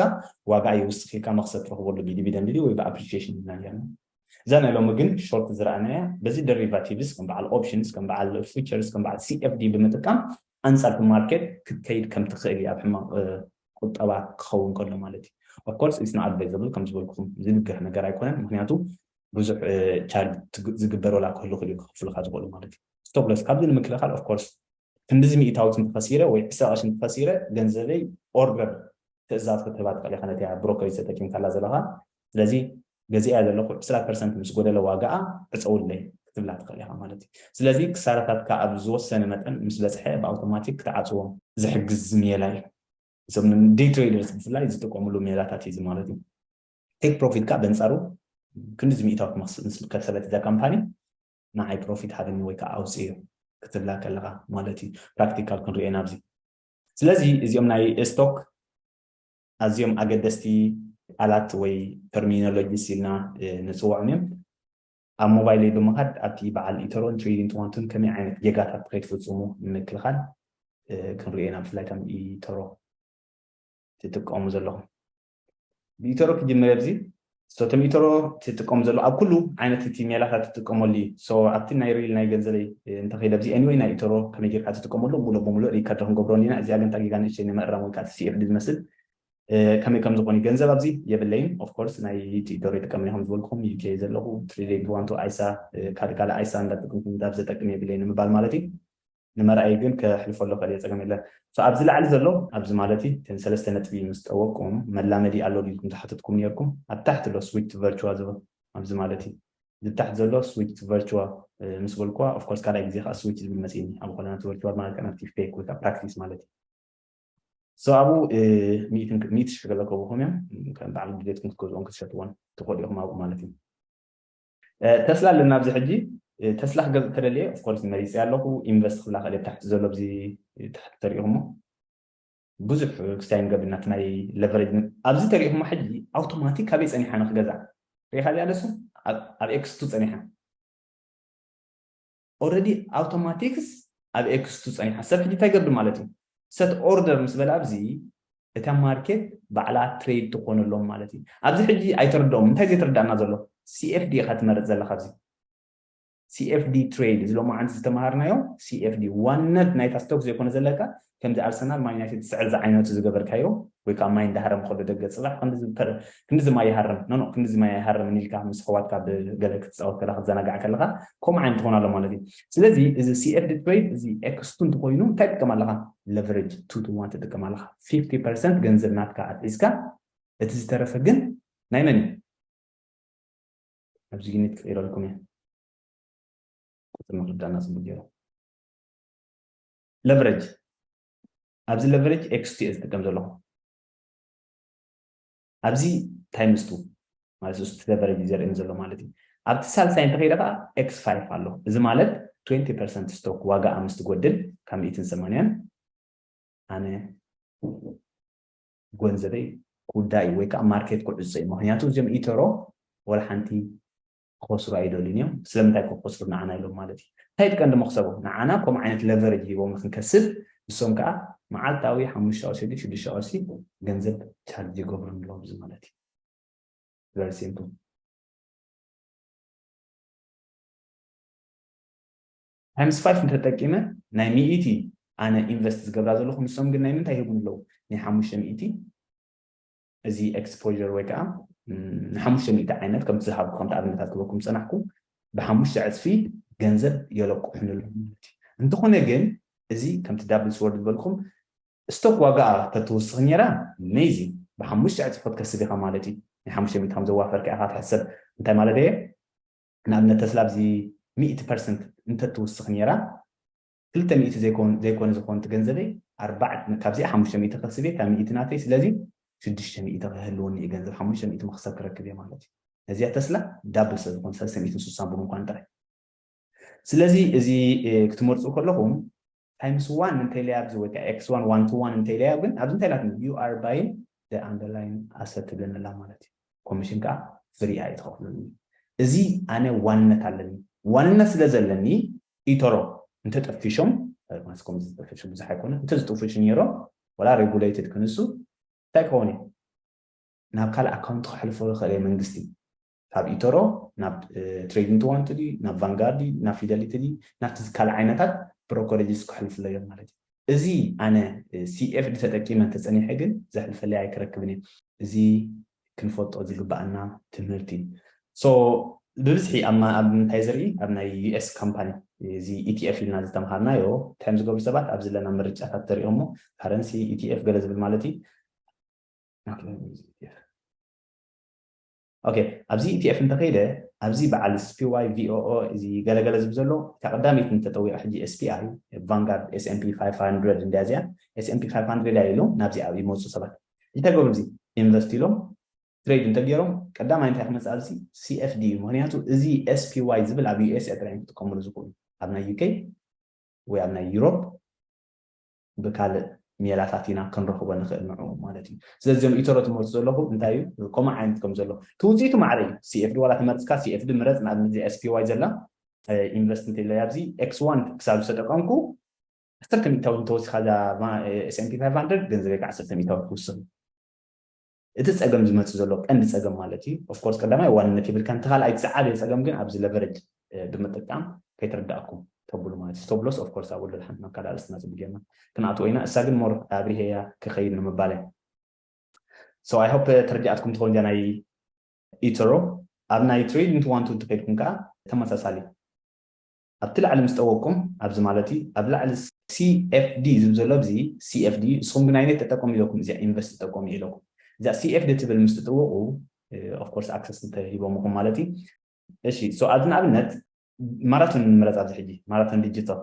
ዋጋኣ ይውስኽ ኢልካ መኽሰብ ትረኽበሉ ብዲቪደንድ ድዩ ወይ ብኣፕሪሺየሽን ኢልና ጌርና። እዛ ናይ ሎሚ ግን ሾርት ዝረኣናያ በዚ ደሪቫቲቭስ ከም በዓል ኦፕሽንስ ከም በዓል ፉቸርስ ከም በዓል CFD ብምጥቃም ኣንጻር እቲ ማርኬት ክትከይድ ከም ትኽእል እያ ኣብ ሕማቕ ቁጠባ ክኸውን ከሎ ማለት እዩ። Of course it's not advisable ከም ዝበልኩኹም ዝድገፍ ነገር ኣይኮነን ምኽንያቱ ብዙሕ ቻርጅ ዝግበር ወላ ክህሉ ክልኡ ክኽፍሉካ ዝኽእሉ ማለት እዩ ስቶፕ ሎስ ካብዚ ንምክልኻል ኦፍ ኮርስ ክንድዚ ሚእታዊት እንተኸሲረ ወይ ዕስራ ቅርሺ እንተኸሲረ ገንዘበይ ኦርደር ትእዛዝ ክትህባ ትኽእል ኢኻ ነቲያ ብሮከሪጅ ተጠቂምካላ ዘለኻ ስለዚ ገዚኣያ ዘለኹ ዕስራ ፐርሰንት ምስ ጎደለ ዋጋኣ ዕፀውለይ ክትብላ ትኽእል ኢኻ ማለት እዩ ስለዚ ክሳራታትካ ኣብ ዝወሰነ መጠን ምስ በፅሐ ብኣውቶማቲክ ክትዓፅዎ ዝሕግዝ ሜላ እዩ እዞም ዴይ ትሬደርስ ብፍላይ ዝጥቀምሉ ሜላታት እዩ እዚ ማለት እዩ ቴክ ፕሮፊት ከኣ በንጻሩ ክንድዚ ሚእታዊት ምስ ከሰበት እዛ ካምፓኒ ንዓይ ፕሮፊት ሃበኒ ወይ ከኣ ኣውጽዮ ክትብላ ከለኻ ማለት እዩ ፕራክቲካል ክንሪኦ ኢና ኣብዚ ስለዚ እዚኦም ናይ ስቶክ ኣዝዮም ኣገደስቲ ቃላት ወይ ተርሚኖሎጂስ ኢልና ንፅውዖም እዮም ኣብ ሞባይለይ ብምኻድ ኣብቲ በዓል ኢተሮን ትሬዲን ትዋንቱን ከመይ ዓይነት ጌጋታት ከይትፍፅሙ ንምክልኻል ክንሪኦ ኢና ብፍላይ ከም ኢተሮ ትጥቀሙ ዘለኹም ሚእተሮ ክጅምር እየ ብዚ so እቲ ሚእተሮ ትጥቀሙ ዘሎ ኣብ ኩሉ ዓይነት እቲ ሜላታት ትጥቀመሉ እዩ so ኣብቲ ናይ ሪል ናይ ገንዘበይ እንተኸይደ ብዚ anyway ናይ ኢተሮ ከመይ ጌርካ ትጥቀመሉ ሙሉእ ብሙሉእ ሪከርድ ክንገብሮ እንዲና እዚኣ ግን ታጊጋ ንእሽተይ ንምእራም ወይ ከዓ CFD ዝመስል ከመይ ከም ዝኾን ገንዘብ ኣብዚ የብለይን ኦፍ ኮርስ ናይ ኢተሮ ይጥቀም ኢኹም ዝበልኩም UK ዘለኹ ትሪሌ ብዋንቶ ኣይሳ ካልእ ካልእ ኣይሳ እንዳጠቅምኩም እንዳብ ዘጠቅም የብለይን ንምባል ማለት እዩ ንመርኣዪ ግን ከሕልፎ ኣለኹ ኤልየ ጸገም የለን so ኣብዚ ላዕሊ ዘሎ ኣብዚ ማለት እዩ እተን ሰለስተ ነጥቢ ምስ ጠወቅኩም መላመዲ ኣሎ ድዩ ኢልኩም ዝሓተትኩም ኔርኩም ኣብ ታሕቲ ኣሎ switch to virtua ዝብል ኣብዚ ማለት እዩ እዚ ታሕቲ ዘሎ switch to virtua ምስ በልኩዋ of course ካልኣይ ግዜ ከኣ switch ዝብል መጺእኒ ኣብ ኾለና to virtua ማለት ከኣ ናብቲ fake ወይ ከኣ practice ማለት እዩ so ኣብኡ ሚእቲ ሽሕ ገለ ከብኹም እዮም ከም በዓል ድሌትኩም ክትገዝኦም ክትሸጥዎን ትኽእሉ ኢኹም ኣብኡ ማለት እዩ ተስላ ኣለና ኣብዚ ሕጂ ተስላ ክገዝእ ተደልየ of course መሪጸያ ኣለኹ ኢንቨስት ክብላ ክእል እየ ታሕቲ ዘሎ ኣብዚ ታሕቲ ተሪኢኹሞ ብዙሕ ክስታይ ንገብር ናቲ ናይ ለቨሬጅ ኣብዚ ተሪኢኹሞ ሕጂ ኣውቶማቲክ ካበይ ጸኒሓ ንክገዛ ሪኢኻ እዚኣ ደሱ ኣብ ኤክስቱ ጸኒሓ ኦረዲ ኣውቶማቲክስ ኣብ ኤክስቱ ጸኒሓ ሰብ ሕጂ እንታይ ገርዱ ማለት እዩ ሰት ኦርደር ምስ በለ ኣብዚ እታ ማርኬት ባዕላ ትሬድ ትኾነሎም ማለት እዩ ኣብዚ ሕጂ ኣይተርድኦም እንታይ ዘይተረዳእና ዘሎ ሲኤፍዲ ኢኻ ትመርጽ ዘለኻ ኣብዚ ሲኤፍዲ ትሬድ እዚ ሎማዓንቲ ዝተማሃርናዮ ሲኤፍዲ ዋነት ናይታ ስቶክ ዘይኮነ ዘለካ ከምዚ ኣርሰናል ማን ዩናይትድ ዝስዕር ዝዓይነቱ ዝገበርካዮ ወይ ከኣ ማይ እንዳሃረመ ከሎ ደገ ጽባሕ ክንድዚ ክንድዚ ማይ ይሃርም ኖኖ ክንድዚ ማይ ኣይሃርምን ኢልካ ምስ ኣሕዋትካ ብገለ ክትጻወት ከለኻ ክትዘናጋዕ ከለኻ ከምኡ ዓይነት ትኾን ኣሎ ማለት እዩ ስለዚ እዚ ሲኤፍ ዲትሮይት እዚ ኤክስ ቱ እንተኾይኑ እንታይ ትጥቀም ኣለኻ ለቨሬጅ ቱ ቱ ዋን ትጥቀም ኣለኻ 50 ፐርሰንት ገንዘብ ናትካ ኣትሒዝካ እቲ ዝተረፈ ግን ናይ መን እዩ ኣብዚ ዩኒት ክቕይረልኩም እየ ቁፅሪ ምርዳእና ፅቡቅ ገይሩ ለቨረጅ ኣብዚ ለቨረጅ ኤክስ ቱ ዝጥቀም ዘለኹ ኣብዚ ታይምስ ቱ ማለት ስ ለቨረጅ ዘርእን ዘሎ ማለት እዩ ኣብቲ ሳልሳይ እንተኸይደ ከዓ ኤክስ ፋይፍ ኣሎ እዚ ማለት 20 ፐርሰንት ስቶክ ዋጋ ምስ ትጎድል ካብ ሚእትን ሰማንያን ኣነ ጎንዘበይ ኩዳ እዩ ወይ ከዓ ማርኬት ክዕፆ እዩ ምክንያቱ እዚኦም ኢተሮ ወላ ሓንቲ ክኸስሩ ኣይደልዩን እዮም ስለምንታይ ከ ክኸስሩ ንዓና ኢሎም ማለት እዩ እንታይ እቲ ቀንዲ መኽሰቦም ንዓና ከምኡ ዓይነት ለቨረጅ ሂቦም ንክንከስብ ንሶም ከኣ መዓልታዊ ሓሙሽተ ቅርሺ ድዩ ሽዱሽተ ቅርሺ ገንዘብ ቻርጅ ይገብሩን ኣለዉ እዚ ማለት እዩ very simple ታይምስ ፋይፍ እንተጠቂመ ናይ ሚኢቲ ኣነ ኢንቨስት ዝገብራ ዘለኹ ንሶም ግን ናይ ምንታይ ይህቡን ኣለዉ ናይ ሓሙሽተ ሚኢቲ እዚ ኤክስፖዠር ወይ ከኣ ንሓሙሽተ ሚእቲ ዓይነት ከምቲ ዝሃብኩ ከምቲ ኣብነታት ክበኩም ዝጸናሕኩ ብሓሙሽተ ዕጽፊ ገንዘብ የለቁሑኒ ኣለዉ ማለት እዩ እንተኾነ ግን እዚ ከምቲ ዳብል ስወርድ ዝበልኩም ስቶክ ዋጋኣ ተትውስኽ ነይራ ኣሜዚንግ ብሓሙሽተ ዕጽፊ ክትከስብ ኢኻ ማለት እዩ ናይ ሓሙሽተ ሚእቲ ከም ዘዋፈርካ ኢኻ ትሕሰብ እንታይ ማለት እየ ንኣብነት ተስላ ኣብዚ ሚእቲ ፐርሰንት እንተትውስኽ ነይራ ክልተ ሚእቲ ዘይኮን ዘይኮነ ዝኮንት ገንዘበይ ኣርባዕ ካብዚኣ ሓሙሽተ ሚእቲ ክህስብ እየ እታ ሚእቲ ናተይ ስለዚ ሽዱሽተ ሚእቲ ክህልወኒ እዩ ገንዘብ ሓሙሽተ ሚእቲ መክሰብ ክረክብ እየ ማለት እዩ ነዚኣ ተስላ ዳብል ስለ ዝኮነ ሰለስተ ሚእትን ስሳን ብምኳን ጥራይ ስለዚ እዚ ክትመርጹ ከለኹም ታይምስ ዋን እንተይለይ ኣብዚ ወይ ከዓ ኤክስ ዋን ዋን ቱ ዋን እንተይለይ ግን ኣብዚ እንታይ ኢላትኒ ዩ ኣር ባይን ደ ኣንደርላይን ኣሰት ትብለኒ ኣላ ማለት እዩ ኮሚሽን ከኣ ፍሪ ኣዩ ትከፍሉኒ እዚ ኣነ ዋንነት ኣለኒ ዋንነት ስለ ዘለኒ ኢቶሮ እንተ ጠፊሾም ዳግማስ ኮምዚ ዝጠፈሹ ብዙሕ ኣይኮኑን እንተ ዝጥፉሹ ኔሮም ወላ ሬጉለይትድ ክንሱ እንታይ ክከውን እዩ ናብ ካልእ ኣካውንት ከሕልፎ ዝክእል እየ መንግስቲ ካብ ኢቶሮ ናብ ትሬዲንግ ትዋንቲ ድዩ ናብ ቫንጋርድ ድዩ ናብ ፊደሊቲ ድዩ ናብቲ ካልእ ዓይነታት ብሮኮሬጅስ ከሕልፍሎ እዮም ማለት እዩ እዚ ኣነ CFD ተጠቂመ እንተጸኒሐ ግን ዘሕልፈለይ ኣይክረክብን እየ እዚ ክንፈልጦ ዝግበኣና ትምህርቲ እዩ so ብብዝሒ ኣብ ምንታይ ዝርኢ ኣብ ናይ US ካምፓኒ እዚ ETF ኢልና ዝተምሃርናዮ ታይም ዝገብሩ ሰባት ኣብዚ ለና ምርጫታት ተሪኦሞ ካረንሲ ETF ገለ ዝብል ማለት እዩ ኦኬ ኣብዚ ኢቲኤፍ እንተከይደ ኣብዚ በዓል ስፒዋይ ቪኦኦ እዚ ገለ ገለ ዝብ ዘሎ እታ ቀዳመይቲ እንተጠዊቀ ሕጂ ኤስፒኣይ ቫንጋርድ ኤስኤምፒ ፋይፍ ሃንድረድ እንድያ እዚኣ ኤስኤምፒ ፋይፍ ሃንድረድ እያ ኢሎም ናብዚ ኣብ ይመፁ ሰባት እንታይ ገብሩ እዚ ኢንቨስት ኢሎም ትሬድ እንተገይሮም ቀዳማይ እንታይ ክመፅእ ኣብዚ ሲኤፍዲ እዩ ምክንያቱ እዚ ኤስፒዋይ ዝብል ኣብ ዩኤስኤ ጥራይ እዮም ክጥቀምሉ ዝኽእሉ ኣብ ናይ ዩኬ ወይ ኣብ ናይ ዩሮፕ ብካልእ ሜላታት ኢና ክንረኽቦ ንኽእል ንዕኡ ማለት እዩ። ስለዚ እዞም ኢቶሮ ትመርጹ ዘለኹም እንታይ እዩ ኮማዕ ዓይነት ከም ዘሎ እቲ ውጽኢቱ ማዕረ እዩ። CFD ዋላ ተመርጽካ CFD ምረጽ ንኣብነት እዚኣ SPY ዘላ ኢንቨስት እንተኢለያ ኣብዚ X1 ክሳብ ዝተጠቀምኩ ዓሰርተ ሚእታዊ እንተወሲኻ እዛ S&P 500 ገንዘበይ ከ ዓሰርተ ሚእታዊ ትውስኽ። እቲ ጸገም ዝመጽእ ዘሎ ቀንዲ ጸገም ማለት እዩ of course ቀዳማይ ዋንነት የብልካን እቲ ካልኣይ እቲ ዝዓበየ ጸገም ግን ኣብዚ ለቨረጅ ብምጥቃም ከይተረዳእኩም ተብሉ ማለት እዩ ዝተብሎስ of course ኣብኡ ሓንቲ ናብ ካልእ ኣርእስትና ጽቡቅ ጌርና ክንኣትዎ ኢና እሳ ግን more ኣብሪሀያ ክከይድ ንምባል እያ so i hope ተረዲኣትኩም ትከውን እዚኣ ናይ ኢቶሮ ኣብ ናይ ትሬዲንግ ዋን ቱ እንተከይድኩም ከኣ ተመሳሳሊ ኣብቲ ላዕሊ ምስ ጠወቅኩም ኣብዚ ማለትይ ኣብ ላዕሊ CFD ዝብል ዘሎ ኣብዚ CFD እዩ ንስኩም ግን ኣይነት ተጠቀሙ ኢለኩም እዚኣ ኢንቨስት ተጠቀሙ እዩ ኢለኩም እዛ CFD ትብል ምስ ትጥወቁ of course access እንተ ሂቦሙኩም ማለት እዩ እሺ so ኣብዚ ንኣብነት ማራቶን ንምረጽ ኣብዚ ሕጂ ማራቶን ዲጂታል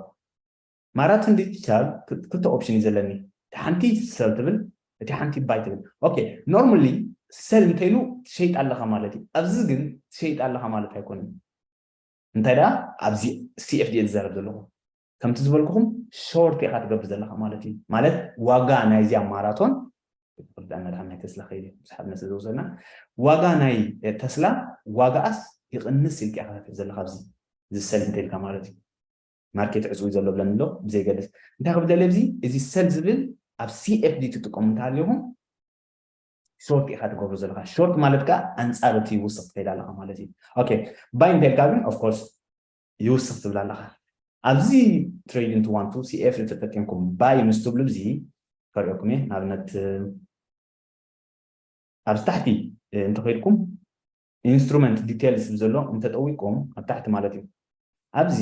ማራቶን ዲጂታል ክልተ ኦፕሽን እዩ ዘለኒ እቲ ሓንቲ ሰል ትብል እቲ ሓንቲ ባይ ትብል ኦኬ ኖርማሊ ሰል እንተይሉ ትሸይጥ ኣለኻ ማለት እዩ ኣብዚ ግን ትሸይጥ ኣለኻ ማለት ኣይኮነን እንታይ ደኣ ኣብዚ CFDA ዝዛረብ ዘለኹ ከምቲ ዝበልኩኹም ሾርት ኢኻ ትገብር ዘለኻ ማለት እዩ ማለት ዋጋ ናይዚኣ ማራቶን ዳና ድሓን ናይ ተስላ ከይደ ስሓብና ስለ ዝወሰድና ዋጋ ናይ ተስላ ዋጋኣስ ይቕንስ ኢልካ ኢኻ ትብል ዘለኻ ኣብዚ ዝሰል እንተኢልካ ማለት እዩ ማርኬት ዕፅዊ ዘሎ ብለን ኣሎ ብዘይገድስ እንታይ ክብል ደለ እዚ እዚ ሰል ዝብል ኣብ ሲኤፍዲ ትጥቀሙ እንተሃልኹም ሾርት ኢካ ትገብሮ ዘለካ ሾርት ማለት ከኣ ኣንጻር እቲ ይውስኽ ትከይድ ኣለካ ማለት እዩ ኦኬ ባይ እንተልካ ግን ኦፍ ኮርስ ይውስኽ ትብል ኣለካ ኣብዚ ትሬድ ኢንቱ ዋን ቱ ሲኤፍ ዝተጠቀምኩም ባይ ምስ ትብሉ እዚ ከርእየኩም እየ ንኣብነት ኣብዚ ታሕቲ እንተኸይድኩም Instrument Details ዝብል ዘሎ እንተ ጠዊቅኩም ኣብ ታሕቲ ማለት እዩ ኣብዚ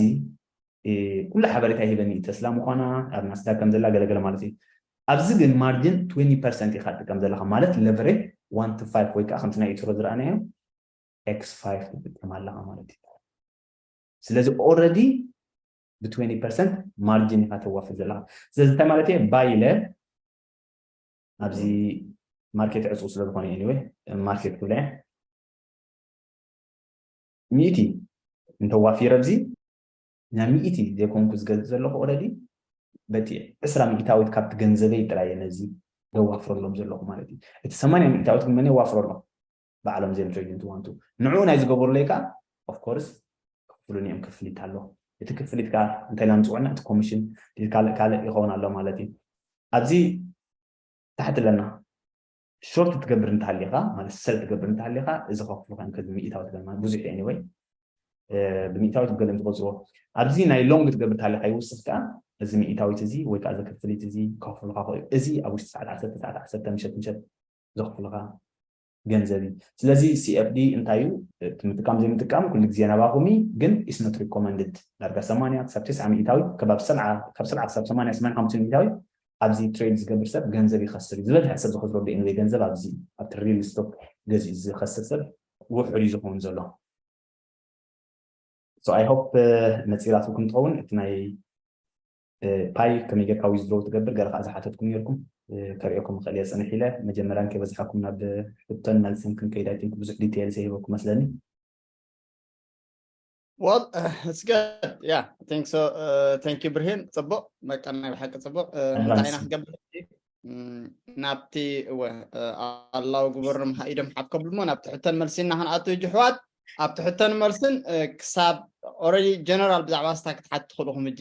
ኩሉ ሓበሬታ ይህበኒ እዩ ተስላ ምኳና ኣብ ናስዳክ ከም ዘላ ገለገለ ማለት እዩ ኣብዚ ግን ማርጅን ትዌኒ ፐርሰንት ኢካ ትጥቀም ዘለካ ማለት ለቨሬጅ ዋን ቱ ፋይቭ ወይ ከዓ ከምቲ ናይ ኢትሮ ዝረኣናዮ ኤክስ ፋይቭ ትጥቀም ኣለካ ማለት እዩ ስለዚ ኦልረዲ ብትዌኒ ፐርሰንት ማርጅን ኢካ ተዋፍር ዘለካ ስለዚ እንታይ ማለት እየ ባይ ኢለ ኣብዚ ማርኬት ዕፁው ስለ ዝኾነ ኤኒወይ ማርኬት ክብላ እየ ሚእቲ እንተዋፊረ ኣብዚ ናይ ሚእቲ ዘይኮንኩ ዝገዝእ ዘለኹ ኦረዲ በቲ ዕስራ ሚእታዊት ካብቲ ገንዘበይ ጥራይ ነዚ ዘዋፍረሎም ዘለኹ ማለት እዩ እቲ ሰማንያ ሚእታዊት ግን መን የዋፍረሎም ባዕሎም እዚኦም ትሬድንት ዋንቱ ንዕኡ ናይ ዝገበሩለይ ከዓ ኦፍኮርስ ክፍሉን እዮም ክፍሊት ኣሎ እቲ ክፍሊት ከዓ እንታይ ኢልና ንፅውዕና እቲ ኮሚሽን ካልእ ካልእ ይኸውን ኣሎ ማለት እዩ ኣብዚ ታሕቲ ኣለና ሾርት ትገብር እንተሃሊኻ ማለት ሰል ትገብር እንተሃሊኻ እዚ ከፍሉ ከም ከዚ ሚእታዊ ትገብር ማለት ብዙሕ እዩ ወይ ብሚእታዊ ትገለም ትቆፅሮ ኣብዚ ናይ ሎንግ ትገብር እንተሃሊኻ ይውስኽ ከዓ እዚ ሚእታዊት እዚ ወይ ከዓ እዚ ክፍሊት እዚ ከፍሉካ ክእዩ እዚ ኣብ ውሽጢ ሰዓት ዓሰርተ ሰዓት ዓሰርተ ምሸት ምሸት ዘኽፍሉኻ ገንዘብ እዩ ስለዚ CFD እንታይ እዩ እቲ ምጥቃም ዘይምጥቃም ኩሉ ግዜ ናባኹም እዩ ግን ኢስ ኖት ሪኮመንድድ ዳርጋ 80 ክሳብ 90 ሚእታዊ ከባቢ ካብ 70 ክሳብ 80 85 ሚእታዊ ኣብዚ ትሬድ ዝገብር ሰብ ገንዘብ ይኸስር እዩ ዝበዝሐ ሰብ ዝኸስረሉ ኤንወይ ገንዘብ ኣብዚ ኣብቲ ሪል ስቶክ ገዚኡ ዝኸስር ሰብ ውሑድ እዩ ዝኸውን ዘሎ ሶ ኣይ ሆፕ መፂራትኩም ትኸውን እቲ ናይ ፓይ ከመይ ጌርካ ዊዝድሮው ትገብር ገለ ከኣ ዝሓተትኩም ኔርኩም ከርእየኩም እኽእል እየ ጽንሕ ኢለ መጀመርያ እንከይበዝሓኩም ናብ ሕቶን መልስን ክንከይድ ኣይ ቲንክ ብዙሕ ዲቴይል ዘይህበኩም መስለኒ Well, uh, it's good. Yeah, I think so. Uh, thank you, ብርሂን ጽቡቅ በቃ ናይ ብሓቂ ጽቡቅ እንታይ ኢና ክገብር ናብቲ እወ ኣላው ግበርም ኢዶም ሓትከብሉ እሞ ናብቲ ሕተን መልሲ እና ክንኣቱ እጅ ሕዋት ኣብቲ ሕተን መልስን ክሳብ ኦረዲ ጀነራል ብዛዕባ ስታ ክትሓት ትኽእልኹም እጂ